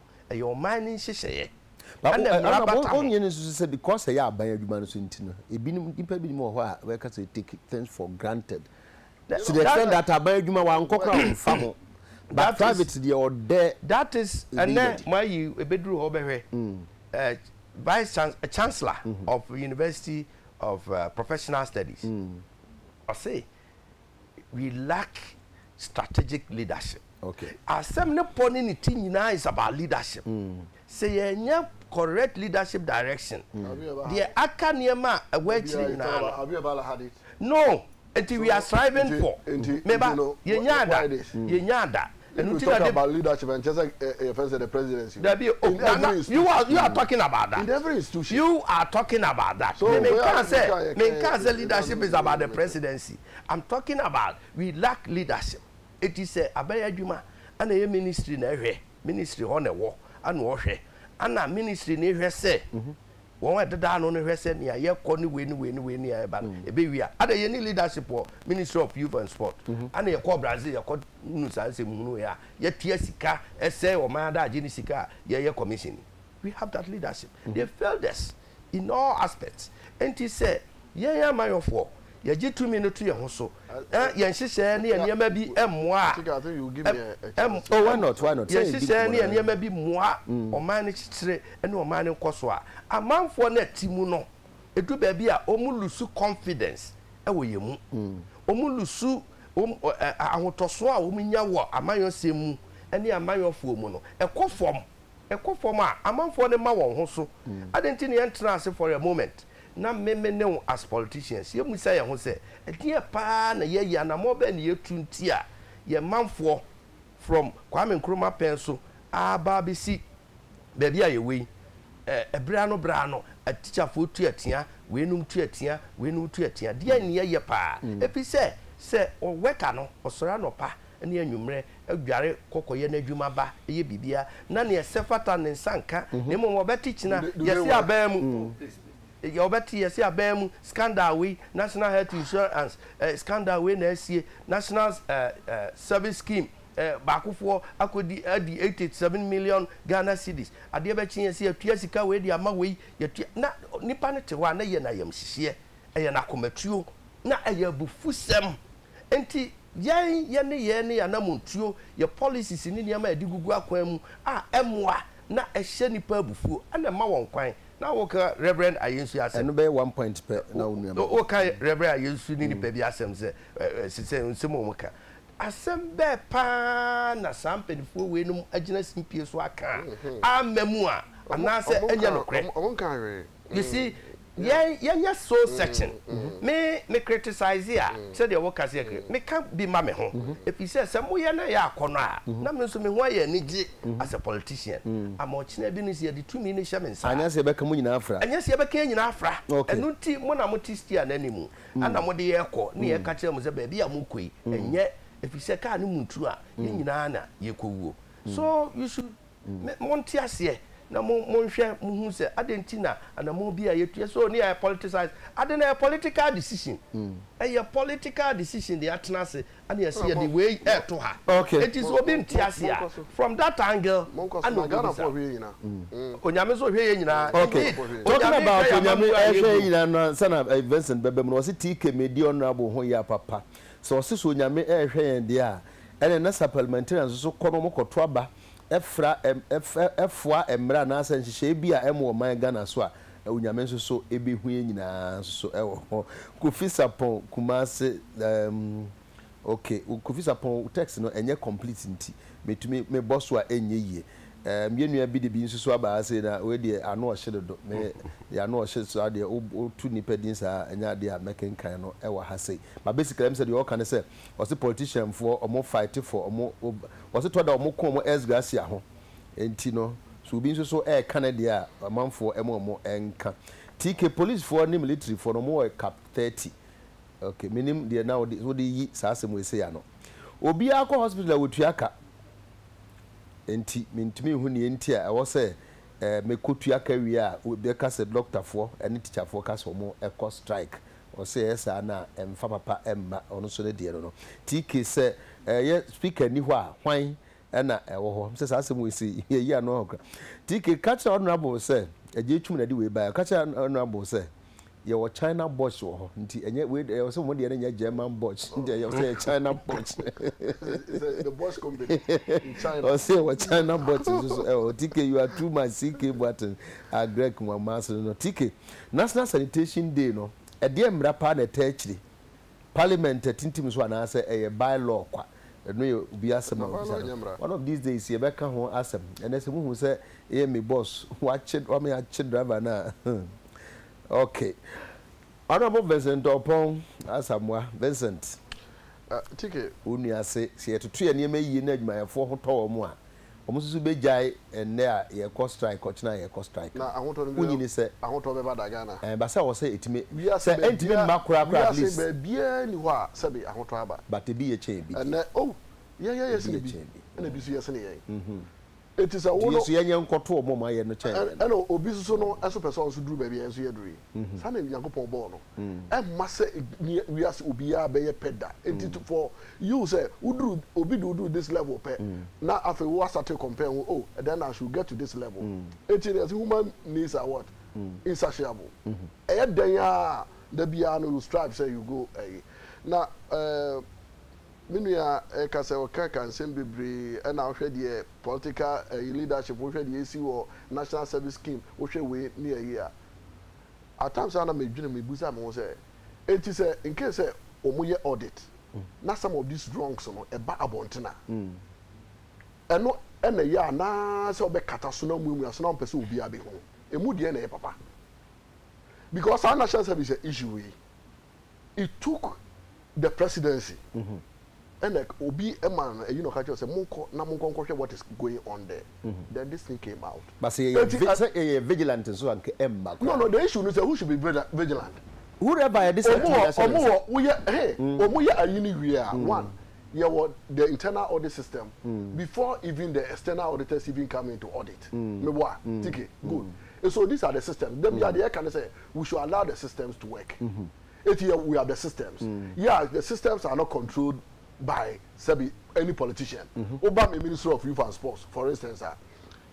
Ɛyɛ ɔman no nhyehyɛeɛ. But Ɛna mmara ɛna bata ho. wɔnyɛ no nso sɛ because ɛyɛ aban adwuma no so nti no, ebinom nnipa binom wɔ hɔ a wɔka sɛ take things for granted That- to the that- extent that aban adwuma wankɔ koraa wɔmfa ho but That is- private deɛ ɔdɛ That is Ebi ɛnɛ yɛ de. mo ayi ebeduru hɔ bɛhwɛ. eh, Vice Chans- eh, Chancellor of University of eh, Professional Studies. Ɔse we lack strategic leadership okay asɛm ne pɔ ne ne ti nyinaa is about leadership mm. sɛ yɛnyɛ correct leadership direction mm. deɛ aka nneɛma a ɛwɔ akyiri nyinaa no no nti we are striving for meba yɛnya ada yɛnya ada If you talk about leadership, ɛnkyerɛ sɛ eh, yɛfrɛ sɛ the presidency. Dabi o, in every institution. You are, you are talking about that. In every institution. You are talking about that. So, me nka sɛ, me nka sɛ leadership is about the presidency. I'm talking about we lack leadership. Eti sɛ abɛyɛ adwuma, ana ɛyɛ ministry na ɛhwɛ, ministry hɔ na ɛwɔ, ana ɔhwɛ, ana ministry na ɛhwɛ sɛ, wɔn a ɛdeda ano no hwɛ sɛ nea yɛkɔ ne wei ne wei ne wei nea ɛba no mm. ɛbɛwie a ada yɛne leadership wɔ ministry of youth and sport mhm. ana yɛkɔ brazil yɛkɔ nu saa nsɛm hunu yɛ a yɛtia sika ɛsɛ ɔman adagye ne sika a yɛyɛ commission we have that leadership mm. they failed us in all aspects ɛnti sɛ Yɛn amanyɔfoɔ, yɛgye tumi no to yɛn ho so, na yɛn nhyehyɛɛ ne yɛn nneɛma bi mmoa yɛn nhyehyɛɛ ne yɛn nneɛma bi mmoa ɔman no kyekyere ne ɔman no nkɔsoɔ a, amanfoɔ no a ɛte mu no, ɛdu baabi a wɔn lusu confidence wɔ yɛn mu. Wɔn lusu wɔn ahotɔsoɔ a wɔn nya wɔ amanyɔsɛm mu ne amanyɔfoɔ mu no, ɛkɔ fam. ɛkɔ fam a, amanfoɔ no mma wɔn ho so. Adɛn nti na yɛntenaa ase for a moment na me me ne wo as politicians yɛmmisa yɛn ho sɛ, ɛdeɛn pa ara na yɛayi, anammɔn bɛn na yɛatu nti a yɛn manfoɔ from Kwame Nkrumah pɛn so aba abɛsi baabi a yɛwɔ yi? Ɛ, berɛ ano berɛ ano, atikyafoɔ tu atia, weinom tu atia, weinom tu atia. Deɛn na yɛyɛ pa ara? Ɛfiri sɛ, sɛ ɔwɛka no ɔsɔre anɔpa ne anwummerɛ, dware kɔ kɔyɛ n'adwuma ba, yɛ biribiara, na nea ɛsɛ fata ne nsa nka, na mmom wɔbɛte kyina yɛse aban mu, wɔbɛte yɛse aban mu scandal wei, National Health Insurance eh, scandal wei na asie, National eh, eh, Service Scheme eh, baakofoɔ akɔdi adi 87 million Ghana cedis, adeɛ bɛkye yɛse yɛatua sika wei de ama wei, yɛtua, na nipa no te hɔ a na ɛyɛ no ayamhyehyeɛ, ɛyɛ no akomatuo, na ɛyɛ abufusɛm. Enti yɛn, yɛn nneyɛɛ ne yɛn anammɔntuo, yɛn policies ne nneɛma a yɛde gugu akwan mu a ɛmmoa na ɛhyɛ nnipa abufuo na ɛma wɔn kwan. Na woka Rev. Ayensu asɛm. Ɛno bɛyɛ one point pɛ na wo nua mɛbɔ. Woka Rev. Ayensu ne nnipa bi asɛm sɛ, ɛɛ, sɛ nsɛm a wɔka. Asɛm bɛɛ pa ara na saa mpanimfoɔ weinom agyina simpie so aka a amma mu a, anaasɛ ɛnyɛ nokorɛ? Wɔnkaa hwee. You see, yɛn yɛnyɛ soul searching. Me me criticize a, sɛdeɛ woka sɛ yɛ meka bi ma me ho. Ɛfiri sɛ sɛ moyɛ na ɛyɛ akɔnnɔ a, na me nso me ho ayɛ anigye as a politician. Ama ɔkyena bi no nso yɛde tumi no hyɛ me nsa a. Anyɛ sɛ yɛbɛka mo nyinaa afra. Anyɛ sɛ yɛbɛka yɛn nyinaa afra. Ɛno nti mo na mote steer no anim, ɛna mode yɛn kɔ na yɛka kyerɛ mo sɛ baabi a morekɔ yi ɛnyɛ, ɛfiri sɛ kaa no mu ntu a, yɛn nyinaa na yɛkɔwuo. So you should. Monte aseɛ na monhwɛ mohunu sɛ adɛn nti na anammɔn bi a yɛtu yɛ sɛ ɔni ayɛ politicize ade na ɛyɛ political decision mm. ɛyɛ political decision de atena ase ana yɛsɛ yɛde wei ɛto ha ɛti sɛ obi nte ase a from that angle ana ɔbɛbisa mm. mm. onyame nso hwɛ yɛ nyinaa talking about onyame ɛhwɛ yɛ nyinaa no ansa na eh, Vincent bɛbɛ mu no ɔse tii kɛmɛ di honorable ho yɛ apapa sɛ ɔse so onyame ɛhwɛ yɛn deɛ a ɛne na sa parliamentarians nso kɔ no ɔmokɔto aba ɛfra ɛm ɛf ɛfoa mmara anaasɛ nhyehyɛɛ bi a ɛmo ɔman Ghana so a Onyame nso so ɛbɛhu yɛn nyinaa nso so ɛwɔ hɔ. Kofi Sarpong, Kumasi ɛɛm ok Kofi Sarpong wo text no ɛnyɛ complete nti mɛtumi me bɔ so a ɛnyɛ yie ɛɛm yɛn nua bi de bi nso so aba ha sei na wei deɛ ano ɔhye dodo me deɛ ano ɔhye so ara deɛ wo wo to nipa din saa a ɛnyɛ adeɛ a mɛkenkan no ɛwɔ ha sei but basically ɛm sɛ deɛ ɔɔka ne sɛ ɔse politician foɔ ɔmo fight for ɔmo ɔse tɔ da ɔmo ko ɔmo ex gracia ho nti no so obi nso so ɛɛka ne deɛ a amanfoɔ ɛmo ɔmo ɛnka TK police foɔ ne military foɔ no ɔmo wɔ cap 30 ok menim deɛ na wode wode yi saa asɛm wei sei ano obiara kɔ hospital a wɔtua ka nti mentumi nhu neɛ nti a ɛwɔ sɛ ɛɛ mekɔ tua ka wie a bɛka sɛ doctor foɔ ɛne teacher foɔ ka sɛ ɔmo ɛkɔ strike Ɔsɛ yɛyɛ saa no a ɛmfa papa mma ɔno nso ne deɛ no no. TK, Sɛ ɛyɛ speaker nni hɔ a hwan na ɛwɔ hɔ? Mesɛ saa asɛm wei sɛ yɛyi ano hɔ kora. TK, Ka kyerɛ honourable sɛ agya atwum na ɛde wei baeɛ. Ka kyerɛ honourable sɛ yɛwɔ China botch wɔ hɔ nti ɛnyɛ wei deɛ ɛwɔ sɛ mo deɛ no nyɛ German botch nti ɛwɔ sɛ ɛyɛ China botch. Ɔsɛ yɛwɔ China botch nso so ɛwɔ hɔ. TK, You are too much CK Boateng, Agrek, Nwamasene no. TK, National Sanitation Day no, ɛdeɛn mmara paa na ɛtaa akyire? Parliament atintim so anaasɛ ɛyɛ by law kwa? Ɛno yɛ obi asɛm a wobisa no. One of these days yɛbɛka ho asɛm. Ɛnnɛ sɛ mohu sɛ yɛn me boss wakye, wame akye driver no a hmm, ok. Honourable Vincent Oppong Asamoah, Vincent, wo nua se, sɛ yɛtoto yɛn nneɛma yie na adwumayɛfoɔ ho tɔ wɔn a, Wɔn nso so bɛgyae ɛnnɛ a yɛkɔ strike kɔ kyena a yɛkɔ strike. Na ahotɔ no bi Wonyi ni sɛ. ahotɔ bɛba da Ghana? Ɛba sɛ wɔ sɛ ɛtumi Wiase sɛ ɛntumi baabiara mma koraa koraa at wiase least. baabiara nni hɔ a sɛbe ahotɔ aba. But ebi yɛ kyɛn ebi deɛ. Ɛnnɛ oh yɛn yɛyɛ Ebi sene yɛ bi kyɛn ebi. ɛna ebi nso yɛ sene yɛn. Enti sɛ Nti wo yɛn no nso yɛnyɛ nkɔto wɔn a wɔayɛ no kyɛn yɛn no. ɛna obi nso so no nso pɛ sɛ ɔno nso duru baabi a yɛn nso yɛaduru yi. Saa na Nyankopɔn bɔɔ no. Ɛmma sɛ nea wiase obiara bɛyɛ pɛ da. Enti to for you sɛ woduru obi de woduru this level pɛ na afei wo asate compare ho oh then I should get to this level. Enti no yɛse human needs are what? Insatiable. Ɛyɛ dɛn ara a da biara no you strive sɛ you go ɛyi. Na eh me nua ɛka sɛ ɔka ka nsɛm bebree ɛna wohwɛ deɛ political ɛyi leadership wohwɛ deɛ ɛsi wɔ national service scheme wohwɛ wei ne ɛyi a. at times a na medwene mebisa me ho sɛ enti sɛ in case sɛ wɔyɛ audit na some of these wrongs no ɛba abɔnten a ɛno ɛna ɛyɛ a na sɛ wɔbɛkata so na wɔmuamua so na wɔmpɛ sɛ obiara bɛhunu ɛmu deɛ na ɛyɛ papa because saa national service issue yi He took the presidency ɛna obi ɛma no ɛyi na ɔka kyerɛ sɛ monkɔ na monkɔ nkɔhwɛ what is going on there mm-hmm. then this thing came out. But sɛ yɛyɛ sɛ yɛyɛ vigilant nso anka ɛmma kɔ. No no the issue no sɛ who should be vigilant. Whoever yɛ de sɛ ɛtumi yɛ sɛ. Ɔmo wɔ woyɛ ɛhɛn mm. ɔmo yɛ ayi ni wie a mm. one yɛ wɔ the internal audit system mm. before even the external auditors even come into audit. Me bɔ a tike good. So these are the systems. Dɛbi adeɛ ɛka ne sɛ We should allow the systems to work. Eti yɛ we are the systems. Yeah, the systems are not controlled by sɛbi any politician. Woba me Ministry of Youth and Sports for instance a,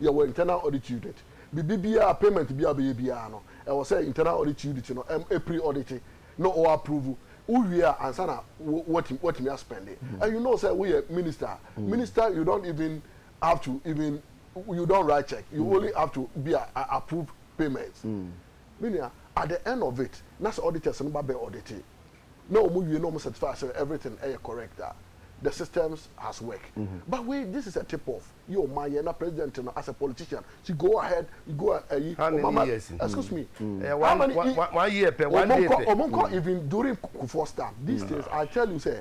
yɛwɔ internal audit unit. Biribi biara, payment biara a wobɛyɛ biara no, ɛwɔ sɛ internal audit unit no pre audit na ɔ approve. Wowie a, ansa na woatumi aspɛnde. And you know sɛ woyɛ minister a, minister you don't even have to even you don't write check you mm. only have to be a, a approved payment mm. meaning at the end of it na sɛ auditors no ba bɛ audite na wɔn wie na wɔn certify sɛ everything ɛyɛ eh, correct a ah. the systems has work mm -hmm. but wait this is a tip off yɛ o ma yɛ na president no as a politician she go ahead you go ayi eh, how many mama, years mm. excuse me mm. mm. how many one, one year pɛ one day pɛ ɔmo nkɔ even during kufuor time these mm. days i tell you say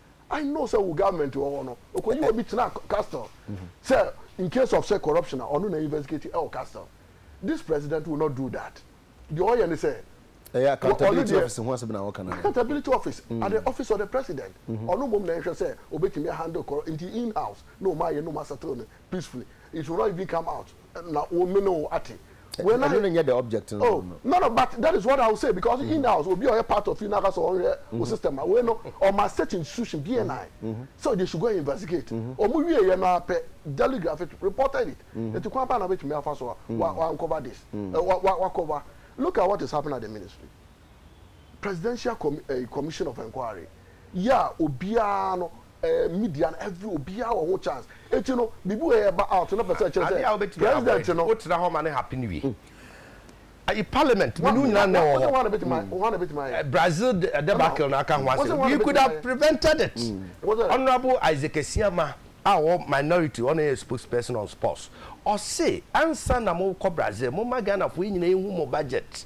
I know sɛ wo government wɔ hɔ no okoyi obi tena castle sɛ in case of sɛ corruption a ɔno na investigate ɛwɔ castle this president will not do that deɛ ɔyɛ ne sɛ ɛyɛ accountability office ho asɛm na wɔka no accountability office mm. at the office of the president mm-hmm. ɔno mmom na ɛhwɛ sɛ obetumi handle corruption nti in house na ɔmo ayɛ na ɔmo asettle no peacefully it will not even come out na wo mene wo ate. Wei na. Ɛno na nyɛ the object no. Oh no no but that is what I will say because mm -hmm. in the house obi ɔyɛ part of you na aka sɛ ɔnhwɛ mm -hmm. system a wei no ɔma state institution BNI mm -hmm. so they should go and investigate ɔmo wie yɛ no apɛ daily graphic reported it eti kwan pa na betumi afa so a wa wa uncover this wa wa wa cover look at what is happening at the ministry presidential com uh, commission of inquiry yɛ a obiara no Midian every obiara wɔ ho chance eti no biribi wɔ yɛ ba out no pɛ sɛ ɛkyerɛ sɛ president no. Wo tena hɔ ma ne happen wie ayi parliament menu nyinaa na ɛwɔ hɔ wɔn na bɛtumi ayɛ Brazil debacle na aka ho asɛm we could have prevented it honourable Isaac Asiama a ɔwɔ minority ɔno yɛ spokesperson on sports ɔse ansa na mo kɔ Brazil mo ma Ghana foɔ yi nyinaa ɛhu mo budget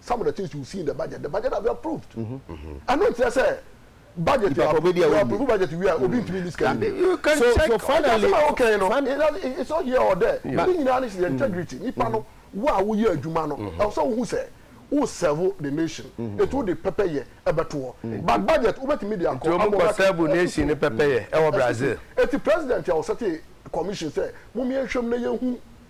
some of the things you see in the budget the budget has been approved ɛno nkyerɛ sɛ budget yɛ approve budget wi a obi ntumi ni sika yi so so finally ɛsɛ okay no it's not here or there ne nyinaa ne sɛ integrity nipa no wo a woyɛ adwuma no ɛwɔ sɛ wohu sɛ wo serve the nation etu de pɛpɛ yɛ ɛbɛto hɔ but budget wobɛtumi de akɔ nti wɔn kɔ serve nation ne pɛpɛ yɛ ɛwɔ Brazil eti president a ɔsɛte commission sɛ mo mmea nhwɛm na yɛn hu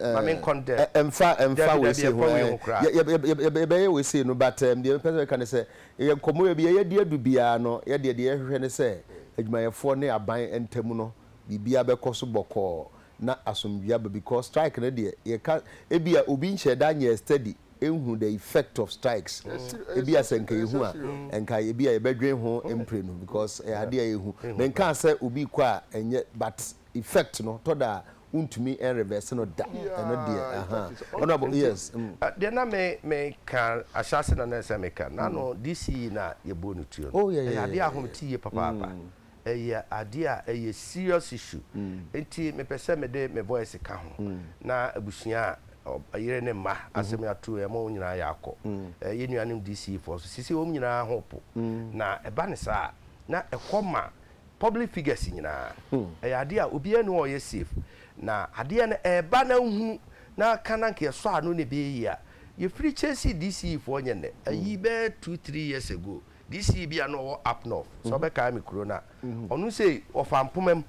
ma me nkɔ no dɛ. Ɛ ɛmfa ɛmfa Dabi, dabi, weesei ho ɛmfa wei ho koraa. Ɛ yɛ yɛ yɛ yɛ yɛbɛyɛ weesei no but ɛɛm deɛ mepɛ sɛ meka ne sɛ yɛ nkɔmmɔ yɛ biaa yɛadi adu biaa no yɛ deɛ deɛ yɛhwehwɛ ne sɛ adwumayɛfoɔ ne aban ntam no biribiaa bɛkɔ so bɔkɔɔ na asomdwoeɛ aba because strike no deɛ yɛka ebia obi nhyɛɛ da nyɛɛ study nhunu the effect of strikes ebia sɛ nka yɛhu a nka ebia yɛbɛdwen ho mprenu because ɛyɛ adeɛ a ɛhu menkaa sɛ obi kɔ a ɛnyɛ but effect no tɔ da a wontumi reverse no da ɛno deɛ aha honourable yes. Mm. Uh, deɛ na me me ka ahyɛase na na ɛsɛ me ka na no this year na yɛbɔ no tuo no ɛyɛ adeɛ a home ti yie papaapa ɛyɛ adeɛ a ɛyɛ serious issue nti mepɛ sɛ mede me voice ka ho na abusua a yere ne mma asɛm ato ɛma wɔn nyinaa yɛ akɔ yɛ nuanom DC foɔ so sisi wɔn nyinaa ho po na ɛba ne saa na ɛkɔ ma Public figures nyinaa ɛyɛ adeɛ a obiara nni hɔ a ɔyɛ safe. Na adeɛ no ɛreba na wohunu na aka na nka yɛsɔ ano na ɛbɛyɛ yie a, yɛfiri chasing DCE foɔ nyɛ nnɛ. Ayi bɛyɛ two, three years ago, DCE bi a na ɔwɔ Up North, sɛ wobɛkae me kuro no a, ɔno sei ɔfaa mpoma mu.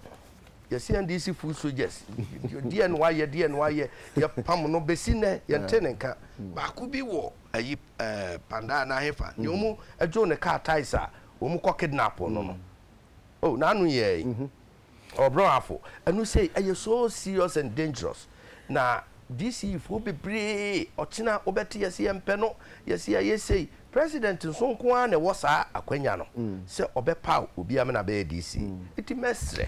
Yɛse NDC foot soldiers, deɛ na wayɛ, deɛ na wayɛ, yɛpam no bɛsi nnɛ yɛnte ne nka. Baako bi wɔ ayi ɛɛ Pandaa anaa hefa, deɛ wɔn dwoo ne car tyres a wɔn kɔ kidnap no no oh n'ano yɛ yi ɔbrɔn afo ɛnu sɛ ɛyɛ so serious and dangerous na dc fo bebree ɔkyena wobɛte yɛsi yɛn pɛ no yɛsi ɛyɛ sɛ president nso nko ara na ɛwɔ saa akwanya no sɛ ɔbɛpaw obi amena bɛyɛ dc eti mɛsrɛ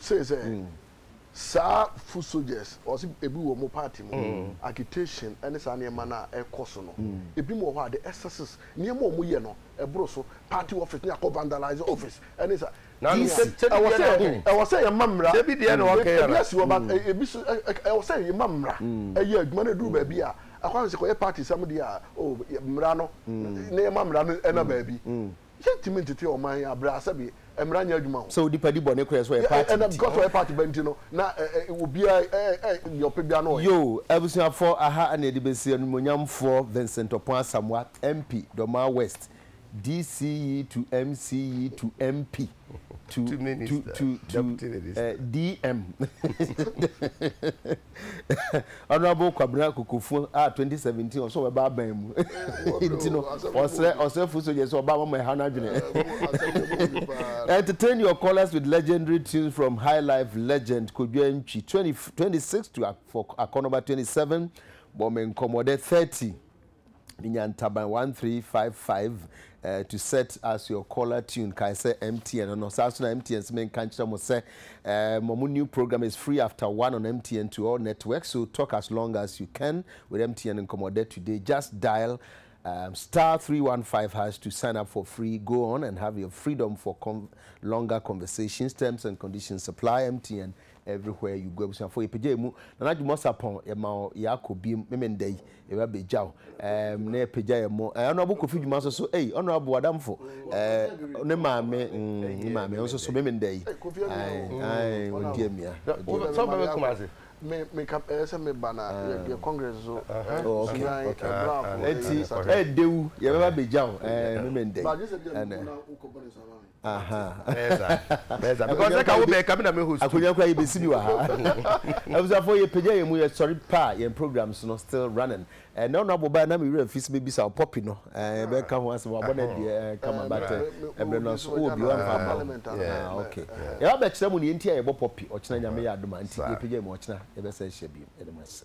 say sɛ saa foot soldiers ɔsi ebi wɔ ɔmo party mu mm. agitation ɛne saa nneɛma no a ɛkɔ so no mm. ebi mu wɔ hɔ a the excesses nneɛma ɔmo yɛ no ɛboro so party office ne akɔ vandalize office ɛne saa ɛwɔ sɛ ɛwɔ sɛ yɛma mmara ebi deɛ na ɔkɛ yɛrɛ ebi asi wɔ ba mm. ebi so ɛwɔ sɛ yɛma mmara ɛyɛ adwuma no eduru baabi a akɔ sɛ kɔyɛ party sɛm deɛ a o mmara no ne yɛma mmara no ɛna baabi Yɛntumi ntete ɔman yi abrɛ a sɛbe mmara nyɛ adwuma ho. Sɛ onipa di bɔne korɛ so ɔyɛ party nti. Because ɔyɛ party ba nti no na obiara yɛ nea ɔpɛ biara na ɔyɛ. Yoo abusuafoɔ aha na yɛde bɛsi animuonyamfoɔ Vincent Opon Asamoah MP Dormaa West DCE to MCE to MP. to to minister, to to deputy minister. Uh, eh, DM. Honorable Kwabena Kokofo a 2017 ɔsɔ ɔbɛba aban mu. Nti no ɔsrɛ ɔsrɛfo so yɛ sɛ ɔba mama ɛha n'adwene. Entertain your callers with legendary tunes from high life legend Kodwa Ntwi 20, 26 to for Akɔnɔba 27 bɔ me nkɔmmɔdɛ 30. Minya ntaban one three five five ɛɛ to set as your caller tune kae sɛ MTN no no saa so na MTN sɛ menka nkyerɛ mo sɛ ɛɛ mo mo new program is free after one on MTN to all networks so talk as long as you can with MTN nkɔmɔdɛ today just dial um, star three one five hash to sign up for free go on and have your freedom for con longer conversations terms and conditions apply MTN Everywhere you go abusuafoɔ yɛ pagya yɛ mu Nana Jumɔ Sapɔn yɛ ma wo yɛ akɔ biem meme nda yi yɛ ba bɛ gya wo ɛɛm na yɛ pagya yɛ mo ɛɛ Honourable Kofi Juma nso so ei Honourable adamfo ɛɛ ne maame mm ne maame nso so meme nda yi ae ae wɔn di amia wɔn di Sɛ bɛbɛ kuma ase me me ka ɛyɛ sɛ me ba na yɛ yɛ congress so sudan ɛbrafo ɛti ɛɛdewu yɛ bɛba bɛ gya wo ɛɛ meme nda yi ɛnɛ. akonya kora yɛbɛsi bi wɔ ha abusuafoɔ yɛpagya yɛn mu yɛsɔre pa a yɛn programs no still running ɛnɛ ɔno abɔ baa na me werɛ mfi sɛ mɛbisa wo pɔpi no bɛka ho asɛm wabɔ no adeɛ kama but ɛberɛ no so wɔ bi wamfa ama wo ok yɛba bɛkyerɛ mu ne yɛnti a yɛbɔ pɔpi ɔkyena nyame yɛ adoma nti yɛpagya yɛn mu ɔkyena yɛbɛsɛ hyɛ bio yɛde mo ase